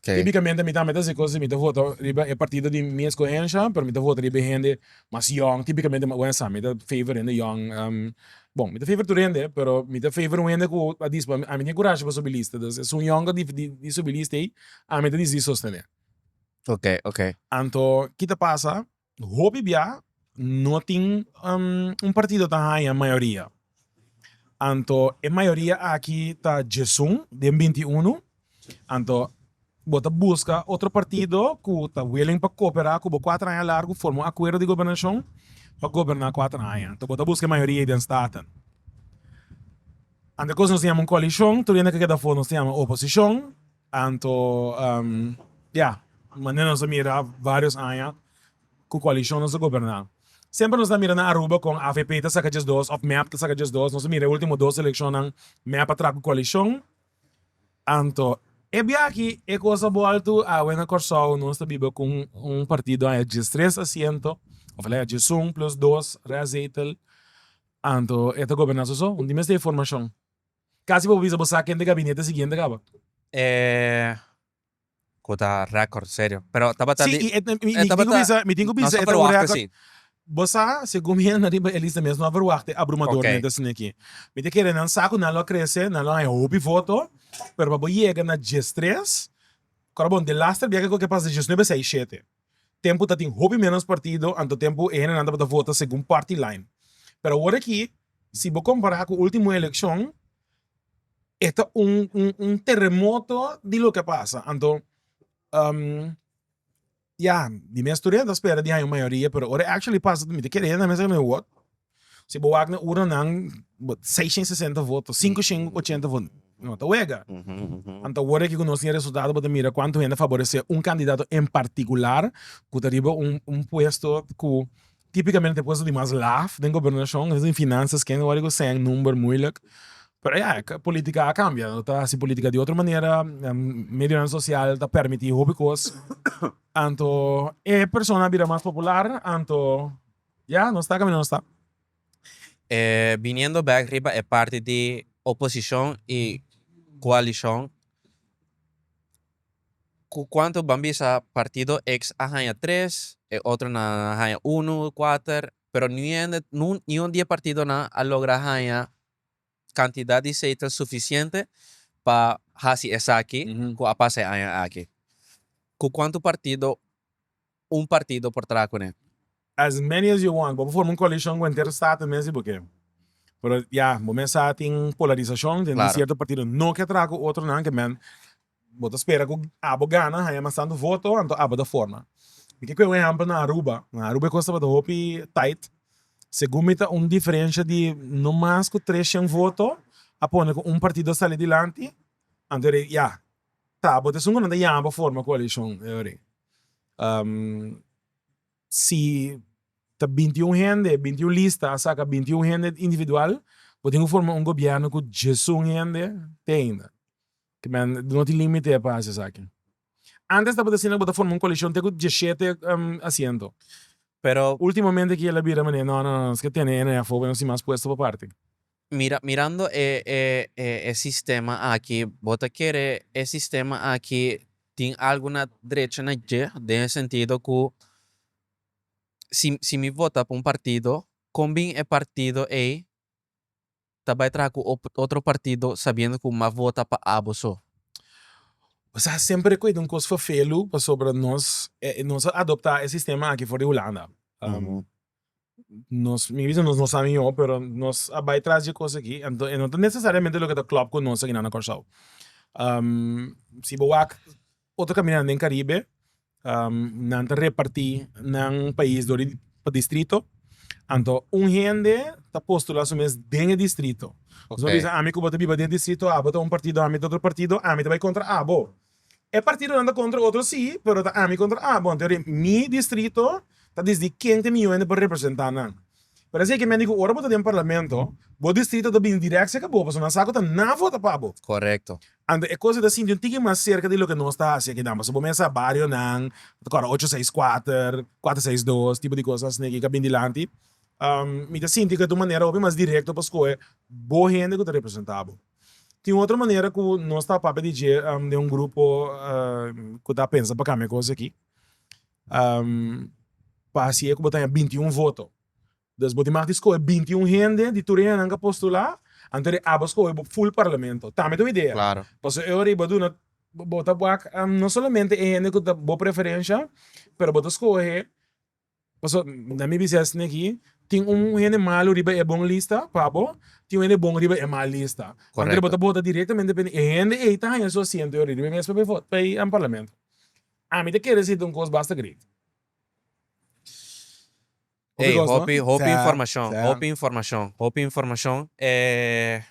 Tipikamente mi tambe ta hasi cosas si mi ta vota riba e partido di mi escohensha, pero mi ta vota riba e hende mas yong, tipikamente mi ta favor hende yong. Bon, mi ta favor tur hende, pero mi ta favor un hende ku a dispa ami tin kurashi pa subi lista. Dus esun yonga di subi lista ei, ami ta disidi sostene. Ok, ok. Anto ki ta pasa, hopi bia no tin un partido ta haña mayoria. Anto e mayoria aki ta djesun den binti unu, anto bo ta buska otro partido ku ta willing pa koperá ku bo kuater aña largu, forma un akuerdo di gobernashon pa goberná kuater aña. Anto bo ta buska e mayoria ei den Staten. Anto e kos nos ta yama un koalishon, tur hende ke keda for nos ta yama oposishon, Anto, ya, manera nos a mira varios aña cu coalicion nos a goberna, semper nos ta mira na Aruba con avp ta saca djes dos of mep ta saca djes dos, nos a mira e ultimo dos eleccionnan mep a traha cu coalicion, anto e biachi e cos a bolto, awe na Corsou nos ta biba cu un partido aña djes tres asiento, of alega djesun plus dos reazetel, anto e ta goberna soso, un di mester e formacion. Casi bo bisa bo sa ken de gabinete siguiente caba. E cu ta record serio pero tabata di si e tabata mi tin cu bisa e ta un record bo sa segun mi hende riba e lista mi es no a verwachta abrumadormente asina aki mi ta kere nan sa cu nan lo a crece nan lo a haya hopi voto pero pa bo yega na diestres coron bon de laster biaha cu a pasa diesnuebe seis shete Tempu ta tin hopi ménos partido, anto tempu e hendenan tabata vota segun party line. Pero awor aki, si bo kompará ku último elekshon, e ta un un teremoto di loke a pasa. Anto, ya, mi mes tur a spera di haña un mayoria, pero ora e actually pasa ta mira kende hendenan mes a kende wòt. Si bo wak na urnanan, seis shen sesenta voto, sinku shen ochenta voto no ta wega. Anto awor aki ku nos tin e resultado bo ta mira kuantu hende a faboresé un kandidato en partikular ku ta riba un un puesto ku típikamente e puesto di mas laf den gobernashon ken ta tin finansias ken awor riba sèn number muilik pero ya politika a kambia no ta hasi politika di otro manera medionan sosial ta permití hopi kos anto e persona a bira mas popular anto. Ya, nos ta caminda, nos ta. Biniendo bek riba e parti di oposicion y coalicion, cu cuanto ban bisa partido X a haña tres, e otronan a haña uno, cuater, pero ni ende, niun di e partidonan a logra haña. kantidat di seitel sufisiente pa hasi esaki ku a pasa e aña aki? Ku kuantu partido un partido por traha kuné? As many as you want. Bo por forma un koalishon ku henter state mes i bo ke. Pero ya, bo mes sa tin polarisashon, den di sierto partido no ke traha ku otronan, ke men Bo ta spera cu abo gana haya mas tantu voto, anto abo ta forma. Mi ke cue un ehempel na Aruba. Na Aruba e cos tabata hopi tight. Segun mi ta un diferencia di no mas cu tres shen voto a pone cu un partido a sali dilanti, anto e di ya ta abo ta esun cu nan ta yama pa forma coalicion e orie. Si ta binti y un hende, binti y un lista a saca binti y un hende individual bo tin cu forma un gobierno cu diesun hende te ainda. Kimen, no tin límite pa hasi esaki. Antes tabata asina, bo ta forma un kolekshon te ku dieshete asiento, pero últimamente kiel a bira manera, no, no, no, nos ke tene ene afó pa nos tin mas puesto pa parti. Mira, mirando e e sistema aki, bo ta kere e sistema aki tin algu na drecha na dje, den e sentido ku si si mi vota pa un partido, kon bin e partido ei ta bai traha cu otro partido sabiendo cu maf vota pa abo so. Bo sa semper cuida un cos fafelu pasobra nos nos a adopta e sistema aki for di Hulanda. Nos mi bisa nos no sa mihor pero nos a bai tras dje cos aki anto e no ta necesariamente loke ta klop cu nos aki nan na Corsou. si bo wak. Otro caminando den Caribe, nan ta reparti nan pais dor di pa distrito, anto un hende ta postula su mes den e distrito, su a bisa ami cu bo ta biba den e distrito, abo ta un partido, ami ta otro partido, ami ta bay contra abo, e partidonan ta contra otro si, pero ta ami contra abo, anto mi distrito ta disdi ken ta mi hende pa representa nan, Pero esei ke mende ku ora bo ta den parlamento, bo distrito ta bini dirèk serka bo, pasobra nan sa ku ta na vota pa bo. Korekto. Anto e kos ei ta sinti un tiki mas serka di loke nos ta hasi akinan, pasobra bo mester sa barionan, ta kòrda ocho seis kuater, kuater seis dos, tipo di kos asina ke ka bini dilanti. Mi ta sinti ku e ta un manera hopi mas direkto pa skohe bo hende ku ta representá bo. Tin otro manera ku nos ta papia di dje den un grupo ku ta pensa pa kambia e kos aki. Pa hasi e ku bo ta haña binti un voto. Dus bo di mas di skohe binti un hende di tur e hendenan ku a postulá, anto di aba skohe bo ful parlamento. Ta mi ta un idea. Pasobra e ora ei bo ta duna, bo ta wak no solamente e hende ku ta bo preferensha, pero bo ta skohe, pasobra na mi bisa esei aki, tin un hende malu riba e bon lista pa bo, tin un hende bon riba e mal lista. Anto di bo ta bota directamente pa e hende, e hende ei ta haña su asiento e ora ei riba e mes papel vot, pa e parlamento. Ami ta kere siti un kos basta great. Hopi kos no? Ey, hopi, hopi informacion, hopi informacion, hopi informacion. E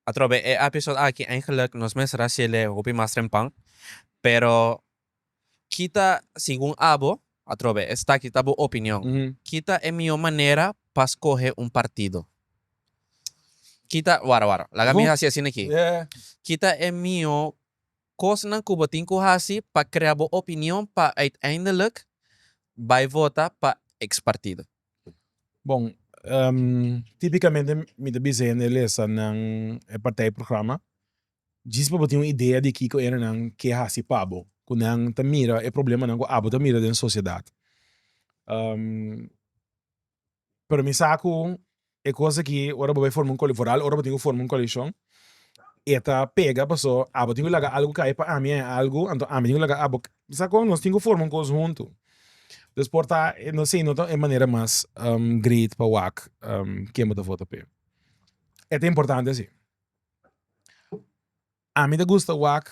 atrobe e episode aki eigenlijk nos mes a hacele hopi mas trempan, pero kita segun abo, atrobe estaki ta bo opinion, kita e mihor manera pa scohe un partido? Kita, wara wara, laga mi haci asina aki, kita e mihor Kosnan ku bo tin ku hasi pa krea bo opinion pa uiteindelik bai vota pa ex partido. Bon, tipikamente mi ta bisa hende lesa nan e partij programa djis pa bo tin un idea di kiko hende nan ke hasi pa bo, ku nan ta mira e problemanan ku abo ta mira den sociedad. pero mi sa cu e cos aki ora bo bai forma un coli vooral ora bo tin cu forma un coalition e ta pega paso abo tin cu laga algo caya pa ami e algo anto ami tin cu laga abo mi sa cu nos tin cu forma un cos hunto dus por ta no si no ta e manera mas great pa wak ken bo ta vota p'e e ta importante si ami ta gusta wak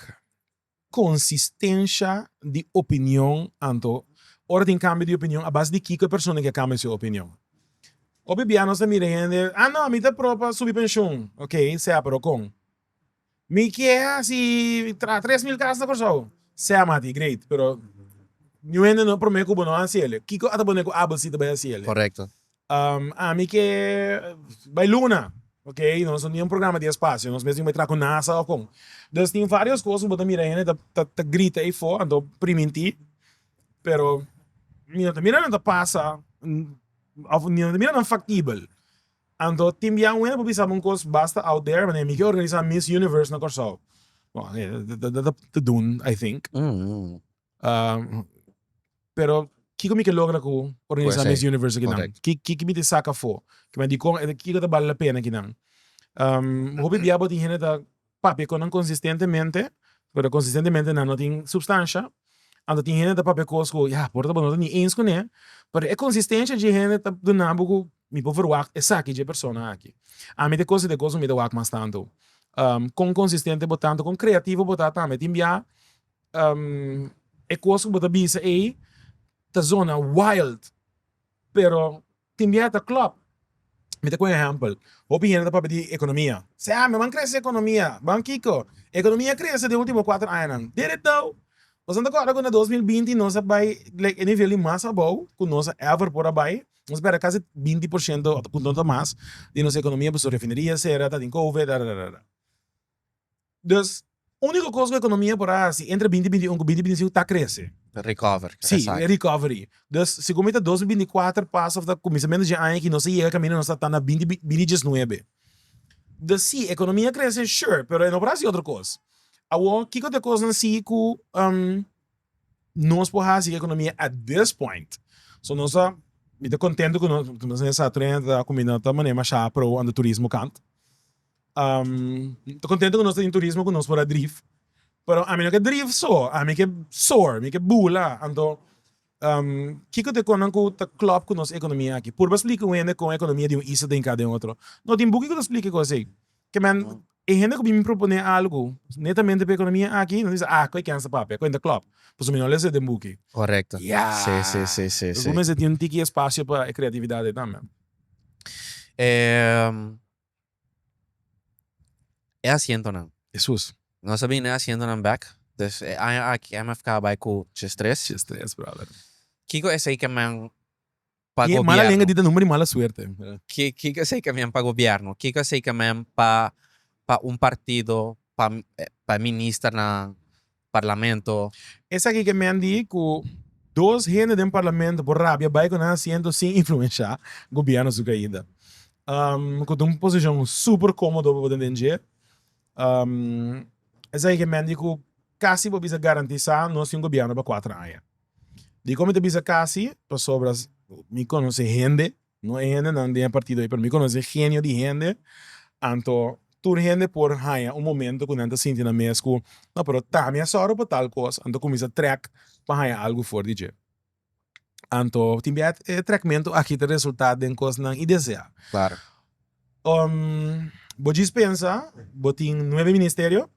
Konsistensha di opinion, Anto, ora tin kambio di opinion a base di kiko e persona ke a kambio su opinion. Hopi bia nos ta mira hende, ah no, mi ta pro pa subi penshun. Ok, sea pero kon? Mi ke hasi traha tres mil kas na Kòrsou. Sea mati, great, pero niun hende no promé ku bo no hasi el'e. Kiko a ta pone ku Abel si ta bai hasi el'e? Korekto. Ami ke bai luna ok nos no tin un programa di espacio nos mes tin bai traha cu nasa o con dus tin varios cos cu bo ta mira hende ta grita eyfo anto priminti pero mi no ta mira nan ta pasa of mi no ta mira nan factibel anto tin bia wende bo bisa un cos basta out there manera mi ke organisa miss universe na Corsou bon ta dun I think. Um, pero kiko mi ke logra ku organisa Pues ei, Miss Universe kinan? correct. Ki ki ki mi te saka fo? Ki mi di kon e kiko ta bale la pena kinan? Um, hopi bia bo tin hende ta papia kon nan konsistentemente, pero konsistentemente nan no tin supstansha. Anto tin hende ta papia kos ku ya por ta bo no ta ni eens kuné, pero e konsistensia dje hende ta duna bo ku mi por verwagt esaki dje persona aki. Ami te kos e te kos ku mi ta wak mas tantu. Um, kon konsistente bo ta, anto kon kreativo bo ta tambe. Tin bia E cos cu bo ta bisa ey ta zona wild pero tin bia ta club mi ta cu un ehempel hopi hende ta papia di economia sey ah mi ban crece economia ban kico economia crece den ultimo cuatro añanan deretao boso no ta acorda cu na dos mil binti nos a bay like e nivel di mas abao cu nos a ever por a bay nos a perde casi binti por ciento punto ta mas di nos economia pasobra refineria cera tatin covid. Dus úniko kos ku ekonomia por a hasi entre binti binti un ku binti binti siu ta krese. Recover, Si, esaki. e recovery. Dus segun mi ta dos mi binti kuater pas òf ta kuminsamentu dje aña aki nos a yega kaminda nos ta ta na binti binti diesnuebe. Dus si, ekonomia a krese sure, pero e no por hasi otro kos. Awor kiko ta e kosnan si ku nos por hasi ku ekonomia at this point? So nos ta, mi ta kontentu ku nos, nos ta na e sa trenta ta kuminda ta manera mashá pro on the turismo kant. ta contento cu nos ta tin turismo cu nos por a drif pero ami no ke drif so ami ke soar mi ke bula anto kiko ta e cosa nan cu ta club cu nos economia aki purba splica un hende con economia di un isla ta hinca den otro no tin buki cu ta splica e cosa ey ke men e hende cu bini propone algo netamente pa economia aki nan bisa ah cu a ken sa papia cu a ta club pasobra mi no lesa den buki ya cu mester tin un tiki espacio pa e creatividad ey tambe. E asientonan. Hesus. Nos a bini den e asientonan bek. Des e aña aki IMF kaba bai ku chis tres. Chis tres, brother. Kiko esei ke men pa gobierno. Di e mala lenga di ta number di mala suerte. Kiko esei ke men pa gobierno. Kiko esei ke men pa un partido, pa e ministernan. Parlamento. Esaki ke men di ku dos hende den Parlamento por rabia bai ku nan asiento sin influensha Gobierno su kaida. Ku ta un posishon super komodo pa bo tende dje. Esaki ke men di ku kasi por bisa garantisa nos tin un Gobierno pa kuater aña. Dikon mi ta bisa kasi? Pasobra mi konosé hende No e hendenan den e partido ei, pero mi konosé e genio di hende, anto tur hende por haña un momento ku nan ta sinti nan mes ku no pero ta mi a sòru pa tal kos, anto kuminsá trèk pa haña algu for di dje. Anto tin bia e trèkmentu aki ta resultá den kosnan indeseá. Bo djis pensa bo tin nuebe ministerio,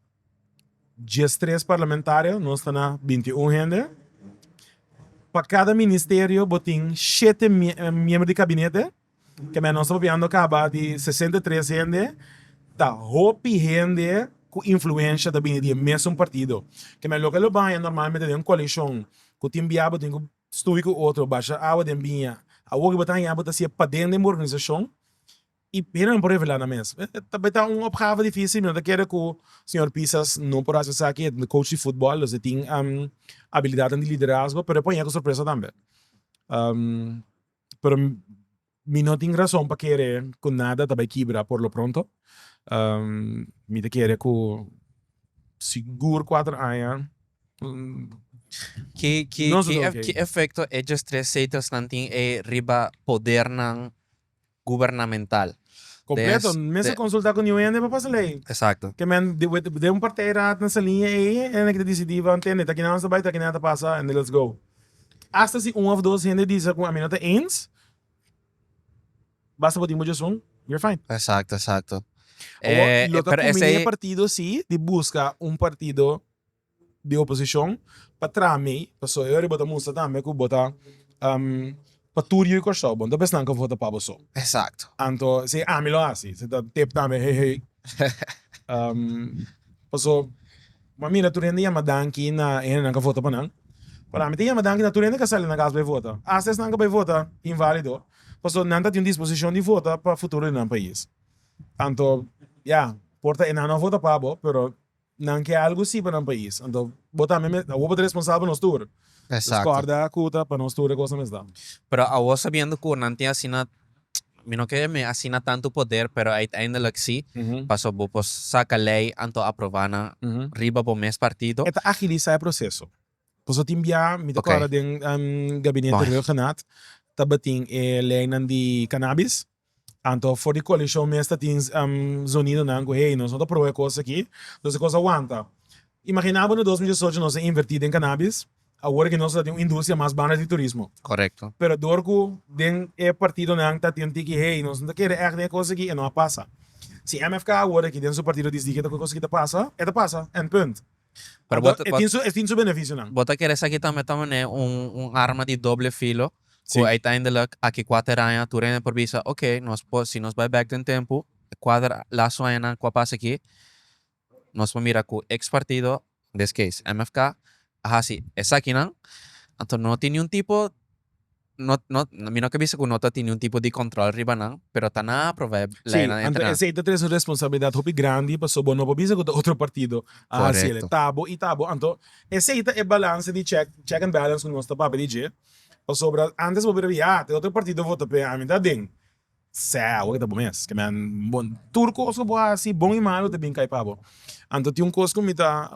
diestres parlamentario, nos ta na binti i un hende. Pa kada ministerio bo tin shete miembro di kabinete, ke men nos ta papiando kaba di sesenta i tres hende, ta hopi hende ku influensha ta bini di e mesun partido. Ke men loke lo baña normalmente den un koalishon ku tin bia bo tin ku Stuvi ku otro basha awa den biña. Awor riba ta hañá bo ta siña paden den bo organisashon i hende nan por revelá nan mes. Ta bai ta un opgave difísil. Mi no ta kere ku señor Pisas no por hasi esaki. E ta coach di futbòl, dus e tin abilidatnan di liderazgo, pero e por hañá ku sorpresa tambe. Pero, Mi no tin rason pa kere ku nada ta bai kibra por lo pronto. Mi ta kere ku sigur kuater aña Ki ki Nos ki loke. ki efekto e djes tres zetasnan tin e riba podernan gubernamental? Kompleto, Des- mester de- konsultá ku niun hende pa pasa lei. Eksakto. Ke men di wit den un partij raad nan salí e ei hende ki ta disidí van tende ta kinan nos ta bai ta kinan ta pasa ende lets go. Asta si un òf dos hende di sa ku a mi no ta ins Basta bo tin bo djesun you're fine. Exacto exacto. E lo ta cumbine e partido si di busca un partido di oposicion pa traha mey pasobra e ora bo ta mustra tambe cu bo ta pa tur yu y Corsou bo no ta bisa nan cu a vota pa bo so. Exacto. Anto si ami lo haci si ta tip tambe hey hey paso. M'a mira tur hende yama danki na e hendenan k'a vota pa nan. Parami ta yama danki na tur hende k'a sali na kas bai vota. Asta esnan k'a bai vota invalido, pasobra nan ta tin un disposishon di vota pa futuro di nan pais. Anto, ya, por ta enan no a vota pa bo, pero nan ke algu sí pa nan pais. Anto, bo tambe mes, awor bo ta responsabel pa nos tur. Nos kòrda ku ta pa nos tur e kosnan mes ta. Pero awor sabiendo ku nan tin asina Mi no kere mi asina tantu poder, pero uiteindelik si, paso bo por saca ley anto aprova nan riba bo mes partido. E ta agilisa e proceso. Paso tin bia mi ta cora den gabinete Reo Genat tabatin e leynan di cannabis, anto for di coalition mes tatin zonidonan cu hey, nos no ta pro e cos aki, nos e cos a wanta. Imagina bo na dos mil diesocho nos a inverti den cannabis. Awor ke nos ta tin un industria mas banda di turismo. Correcto. Pero door cu den e partidonan ta tin un tiki hey nos no ta kere echt den e cos aki e no a pasa. Si MFK a worde aki den su partido disdi cu e cos aki ta pasa, e ta pasa en punt. Pero bo ta E tin su e tin su beneficionan. Bo ta kere esaki tambe ta manera un un arma di doble filo cu Si. uiteindelijk aki cuater aña tur hende por bisa oke nos por si nos bay back den tempo cuater lazo añanan cu a pasa aki Nos por mira cu ex partido, des case MFK, a haci esakinan. Anto no tin niun tipo, no, no, mi no ke bisa cu no ta tin niun tipo di control riba nan, pero ta nan a aprova e Si, leenan anto entrenan. esey ta tres un responsabilidad hopi grandi, paso bo no por bisa cu ta otro partido a haci ele. Correcto. Ta bo y ta bo. Anto esey ta e balance di check, check and balance cu nos ta papia di dje, pasobra antes bo bira di, ah, ta e otro partido vota p'e, ami ta aden. Sè, awor ke ta bo mes. Ke men bon. Tur kos ku bo hasi, bon i malu, ta bin kai pa bo. Anto tin un kos ku mi ta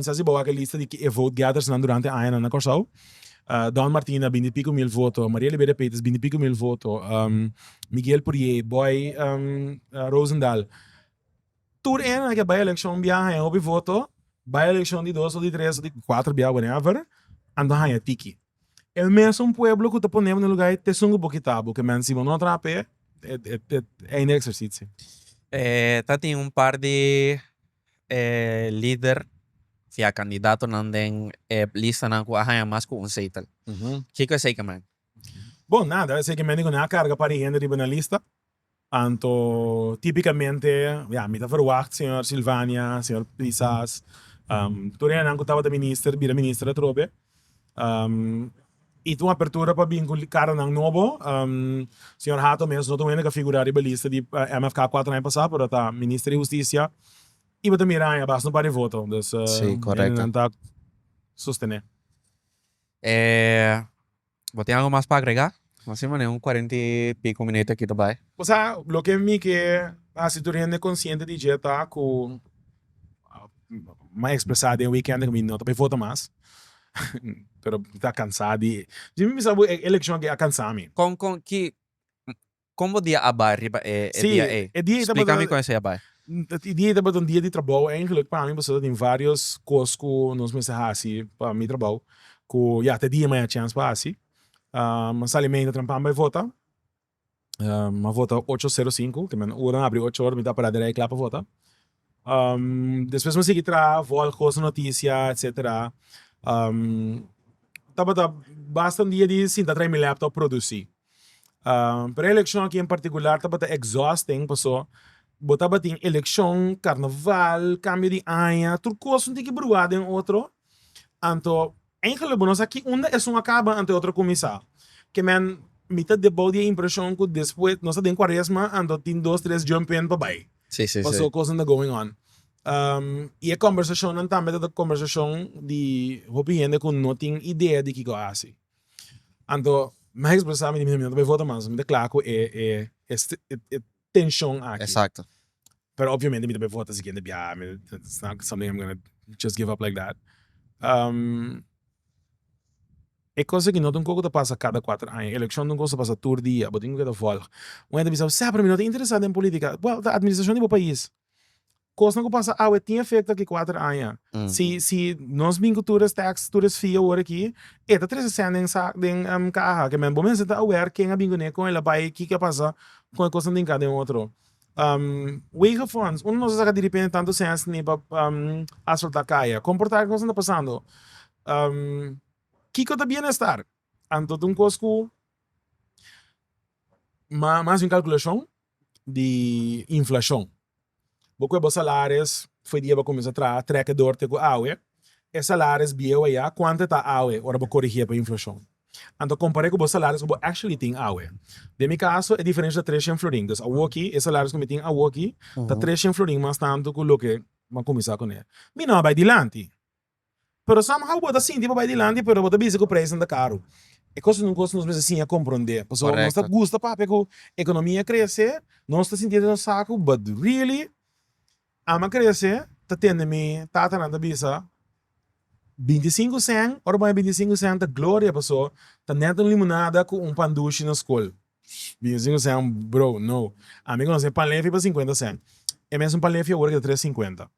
sa si bo wak e lista di e vote gethersnan durante añanan na Kòrsou. Don Martin a binti piko mil voto, Maria Libeda Peters binti piko mil voto, Miguel Purier, Boy Rosendal. Tur e añanan ke bai elekshon bia haña hopi voto, bai elekshon di dos, di tres, di kuater bia whenever, anto haña tiki. El mesun pueblo cu ta ponebo na e luga ei, t'esun cu bo kitabo, cu e mens si bo no a trapa ei, e einde di e exercicio. E ta tin un par di e lider via candidatonan den e listanan cu a haña mas cu un zetel. Kico e zekelman? Bon, nada, e zekelman di cu nan a carga un par di hende riba na lista, Anto tipikamente ya mi ta ferwagt señor Sylvania, señor Pisas, tur hènnan ku tabata minister bira minister atrobe y ta un apertura pa bin ku karonan nobo, señor Hato mes no ta un hende ku a figurá riba lista di MFK kuater aña pasá pero ta minister di hustisia y bo ta mira aña basta un par di voto dus hende nan ta sostené. Bo tin algo mas pa agrega? Bo si manera un cuarenta y pico minut aki ta bay. Bo sa loke mi ke hasi tur hende consciente di dje ta cu mi a expresa den weekend de cu mi no ta bay vota mas pero mi ta cansa di dje mi bisa bo e eleccion aki a cansa mi. Con con ki Kon bo dia a bai riba e dia ei? Splika mi kon esei a bai. E dia ei tabata un dia di trabou eindelijk pa mi pasobra ta tin varios kos ku nos mester hasi pa mi trabou ku ya te dia mi a haya chèns pa hasi. A sali mei ta trampami bai vota, mi a vota ocho sero sinku, kende mi a na ora, mi a habri ocho ora, mi ta para dirèk kla pa vota. Despues mi a sigui traha vòl koos notisia etsetera. Tabata basta un dia di sinta traha mi laptop produsi. Pero e elekshon aki en partikular tabata exhausting pasobra bo tabatin elekshon, karnaval, kambio di aña, tur kos tin ke bruha den otro anto Eingele bo no sa ki unda esun a kaba anto e otro kuminsá. Kemen mi ta debou di e impreshon ku despues nos ta den Kuaresma anto tin dos tres jump in pa bai paso kosnan ta going on. I e kòmbersashonnan tambe ta kòmbersashon di hopi hende ku no tin idea di kiko a hasi. Anto mi a ekspresá mi di mi no ta bai vota mas, mi ta kla ku e tenshon aki. Exacto. Pero obviamente mi ta bin vota si kende biaha, mi it's not something I'm gonna just give up like that. e cos aki no ta un cosa cu ta pasa cada cuater aña, e eleccion ta un cosa cu ta pasa tur dia, bo tin cu keda volg. Un hende ta bisa, sea pero mi no ta interesá den politica. Well, ta administracion di bo pais. Kosnan ku pasa awe tin efekto aki kuater aña. Si si nos bin ku tur es teks, tur es fee awor aki, e ta trese sèn den sa den kaha. Ke men bo mester ta aware ken a bin kuné, kon el a bai, kiko a pasa kon e kosnan den ka den otro. Wegen funds, uno no sa saka direpente tantu sèns ni pa asfaltá kaya. Kon por ta e kosnan ta pasando? Kiko ta bienestar? Anto ta un kos ku mas den kalkulashon. di inflashon. Bo kue bo salares for di e bo kuminsá traha trèk'e dor te ku awe, e salares bieu a ya kuantu e ta awe ora bo korigí e pa inflashon. Anto kompar'é ku bo salares ku bo actually tin awe. Den mi kaso e diferensha ta tres shen florin. Dus awoki e salares ku mi tin awoki ta tres shen florin mas tantu ku loke mi a kuminsá kuné. Mi no a bai dilanti. Pero somehow bo ta sinti pa bai dilanti pero bo ta bisa cu prijsnan ta caro. E cos un cos nos mester siña comprende. Pasobra nos ta gusta papia cu economia crece, nos ta sinti den nos sacu but really ama crece ta tende mi tatanan ta bisa binti sinku cent ora bo a haña binti sinku cent ta gloria paso ta net un limonada cu un pan dushi na scol. Binti sinku cent bro no. Ami conoce pan lefi pa cincuenta cent. E mes un pan lefi awor a keda tres cincuenta.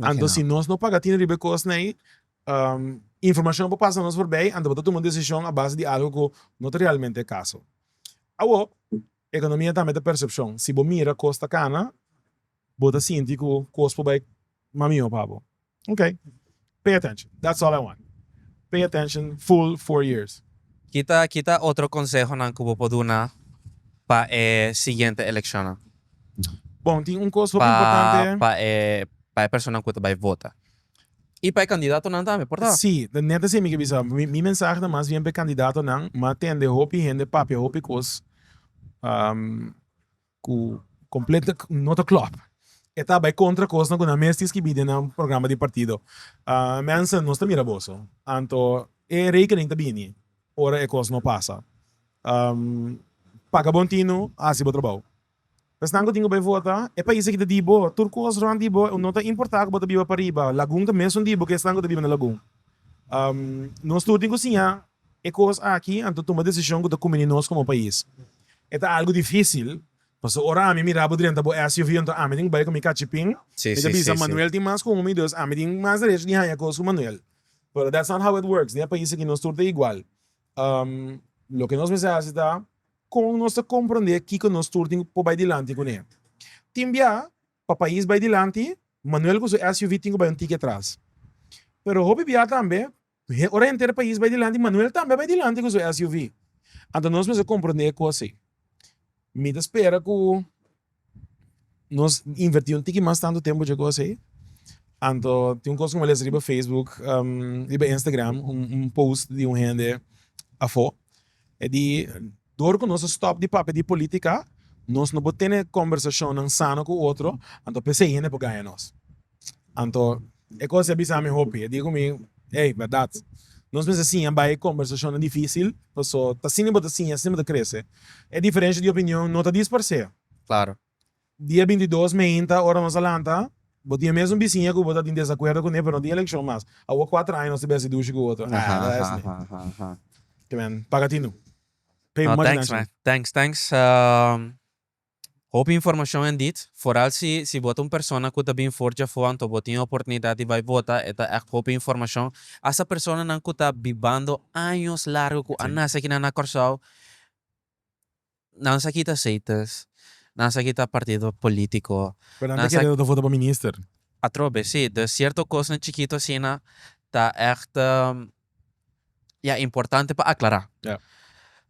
Anto si nos no paga atenha riba e kosnan ei, informashon por pasa nos forbei, anto bo ta tuma un desishon a base di algu ku no ta realmente e kaso. Awor, ekonomia tambe ta persepshon. Si bo mira kos ta kana, bo ta sinti ku kos por bai mas mihó pa bo. Ok. Pay attention that's all I want pay attention full four years. Kita kita otro consehonan cu bo por duna pa e siguiente eleccionnan. Bon, tin un cos hopi importante. Pa e pa e personanan cu ta bay vota. Y pa e candidatonan tambe, por ta. Si, ta net así mi ke bisa. Mi mensahe ta mas bien pa e candidatonan, m'a tende hopi hende papia hopi cos. cu completo no ta clop. E ta bay contra cosnan cu nan mes tin skibi den nan programa di partido. Mensen, nos ta mira boso, anto e rekening ta bini ora e cos no pasa. Paga bon tin nu, haci bo trabao. Esnan cu tin cu bay vota, e pais aki ta di bo, tur cos rond di bo, no ta importa cu bo ta biba pariba, lagun ta mesun di bo cu esnan cu ta biba na lagun. Nos tur tin cu siña E kos aki anto tuma desishon ku ta kumbini nos komo pais. E ta algu difisil, pasobra ora ami mira bo drenta bo SUV anto ami tin ku bai ku mi kachipin, mi ta bisa Manuel tin mas ku mi, dus ami tin mas derecho di haña kos ku Manuel. Pero that's not how it works, den e pais aki nos tur ta igual. Loke nos mester hasi ta kon nos ta komprende kiko nos tur tin por bai dilanti kuné. Tin bia, pa pais bai dilanti, Manuel ku su SUV tin ku bai un tiki atras. Pero hopi bia tambe, He ora henter pais bai dilanti, Manuel tambe a bai dilanti cu su SUV. Anto nos mester comprende e cos ey. Mi ta spera cu nos inverti un tiki mas tanto tempo dje cos ey. Anto tin un cos cu mi a lesa riba Facebook, riba Instagram, un post di un hende afo. E di, Dor cu nos a stop di papia di politica, nos no por tene conversacionnan sano cu otro, anto p'esey hende por gaya nos. Anto e cos ya bisa mi hopi, e diga cu mi, Ey, berdad, nos mester siña bay e combersacionnan dificil, paso t'asina y bo ta siña, asina bo ta crece. E diferencia di opinion no ta disparce. Claro. Dia binti dos meinta, ora nos a lanta, bo tin e mesun bisiña cu bo ta tin desacuerdo cune, pero no tin eleccion mas. Awo cuatro aña nos ta besi dushi cu otro. Ahh, ta esne. Te men, paga tinu. Pay money nan shi. No, thanks man. Thanks, thanks. Hopi informashon en dit, foral si si bo ta un persona ku ta bin for djafó anto bo tin e oportunidat di bai bota, e ta ègt hopi informashon. Asta personanan ku ta bibando años largu ku a nase akinan na Kòrsou, nan sa kita aseites, nan sa kita partido polítiko, Pero nan ta kere nan ta vota pa minister. Atrobe, si. Sierto kosnan chikito asina ta ègt. Ya importante pa aclara. Ya.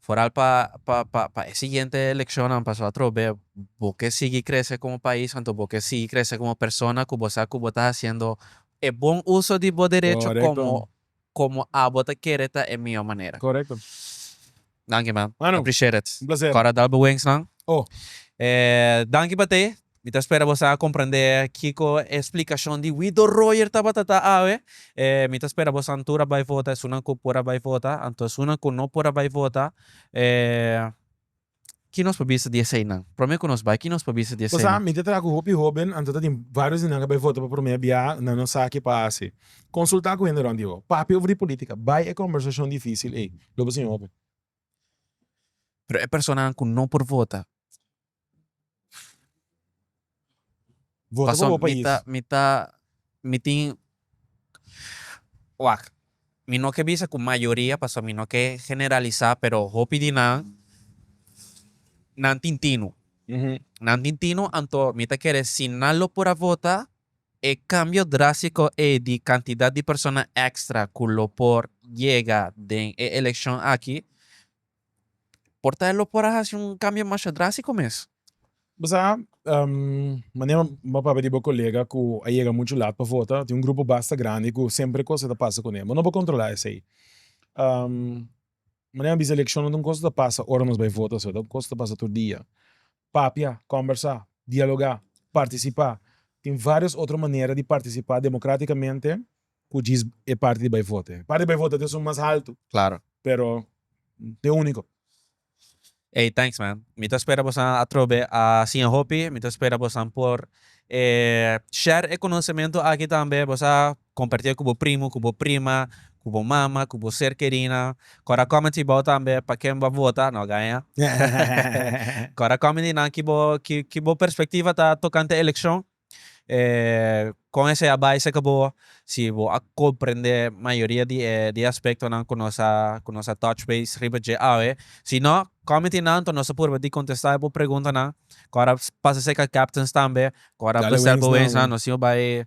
Foral pa pa pa pa e siguiente eleccionnan paso atrobe bo ke sigui crece como pais anto bo ke sigui crece como persona cu bo sa cu bo ta haciendo e bon uso di bo derecho Correcto. como como abo ta kere ta e mijo manera. Correcto. Danki man, Manu, appreciate it. un placer. Kòrda dal bo wings man. Oh. E danki pa te. Mi ta spera boso a komprendé kiko e splikashon di wi Don Royer tabata ta awe. E mi ta spera boso tur a bai vota esunnan ku por a bai vota. Anto esunnan ku no por a bai vota e ki nos por bisa di eseinan? Promé ku nos bai, ki nos por bisa di eseinan? Bo sa, mi ta traha ku hopi hóben, anto ta tin vários di nan ku a bai vota pa promé biaha, nan no sa ke pa hasi. Konsultá ku hende rònt di bo. Papia over di polítika. Bai e kòmbersashon difísil ei. Lo bo sin hopi. Pero e personanan ku no por vota. Vota pa bo pais. Mi ta, mi tin, wak, mi no ke bisa ku mayoria pasobra mi no ke generalisá, pero hopi di nan, nan tin tino. Nan tin tino, anto mi ta kere si nan lo por a vota. E cambio drástico ei di cantidad di persona extra cu lo por yega den e eleccion aki, por ta lo por a haci un cambio masha drástico mes. Bo sa, manera bo a papia di bo colega cu a yega mucho laat pa vota, tin un grupo basta grandi cu semper e cosa ta pasa cu nan, bo no por controla esey. Manera a bisa eleccionnan ta un cosa ta pasa ora nos bay vota, ta un cosa ta pasa tur dia. papia, kòmbersá, dialogá, partisipá, tin vários otro manera di partisipá demokratikamente ku djis e parti di bai vota. E parti di bai vota ta esun mas haltu, pero no ta e úniko. Ey thanks man. Mi ta spera bosan a trobe a siña hopi. Mi ta spera bosan por share e konosementu aki tambe. Bo sa. Compartié cu bo primo, cu bo prima, cu bo mama, cu bo ser querina. Cora comenti bao tambe pa ken boa vota, no gaña. Cora comenti nan ki bo ki ki bo perspectiva ta tocante eleccion. E con esey a bai cerca bo si bo a comprende mayoria di e di e aspectonan cu nos a cu nos a touch base riba dje awe. Si no comenti nan anto nos a purba di contesta e bo preguntanan. Cora pasa cerca captains tambe, cora Djali Wings nan. Wings nan nos tin a bai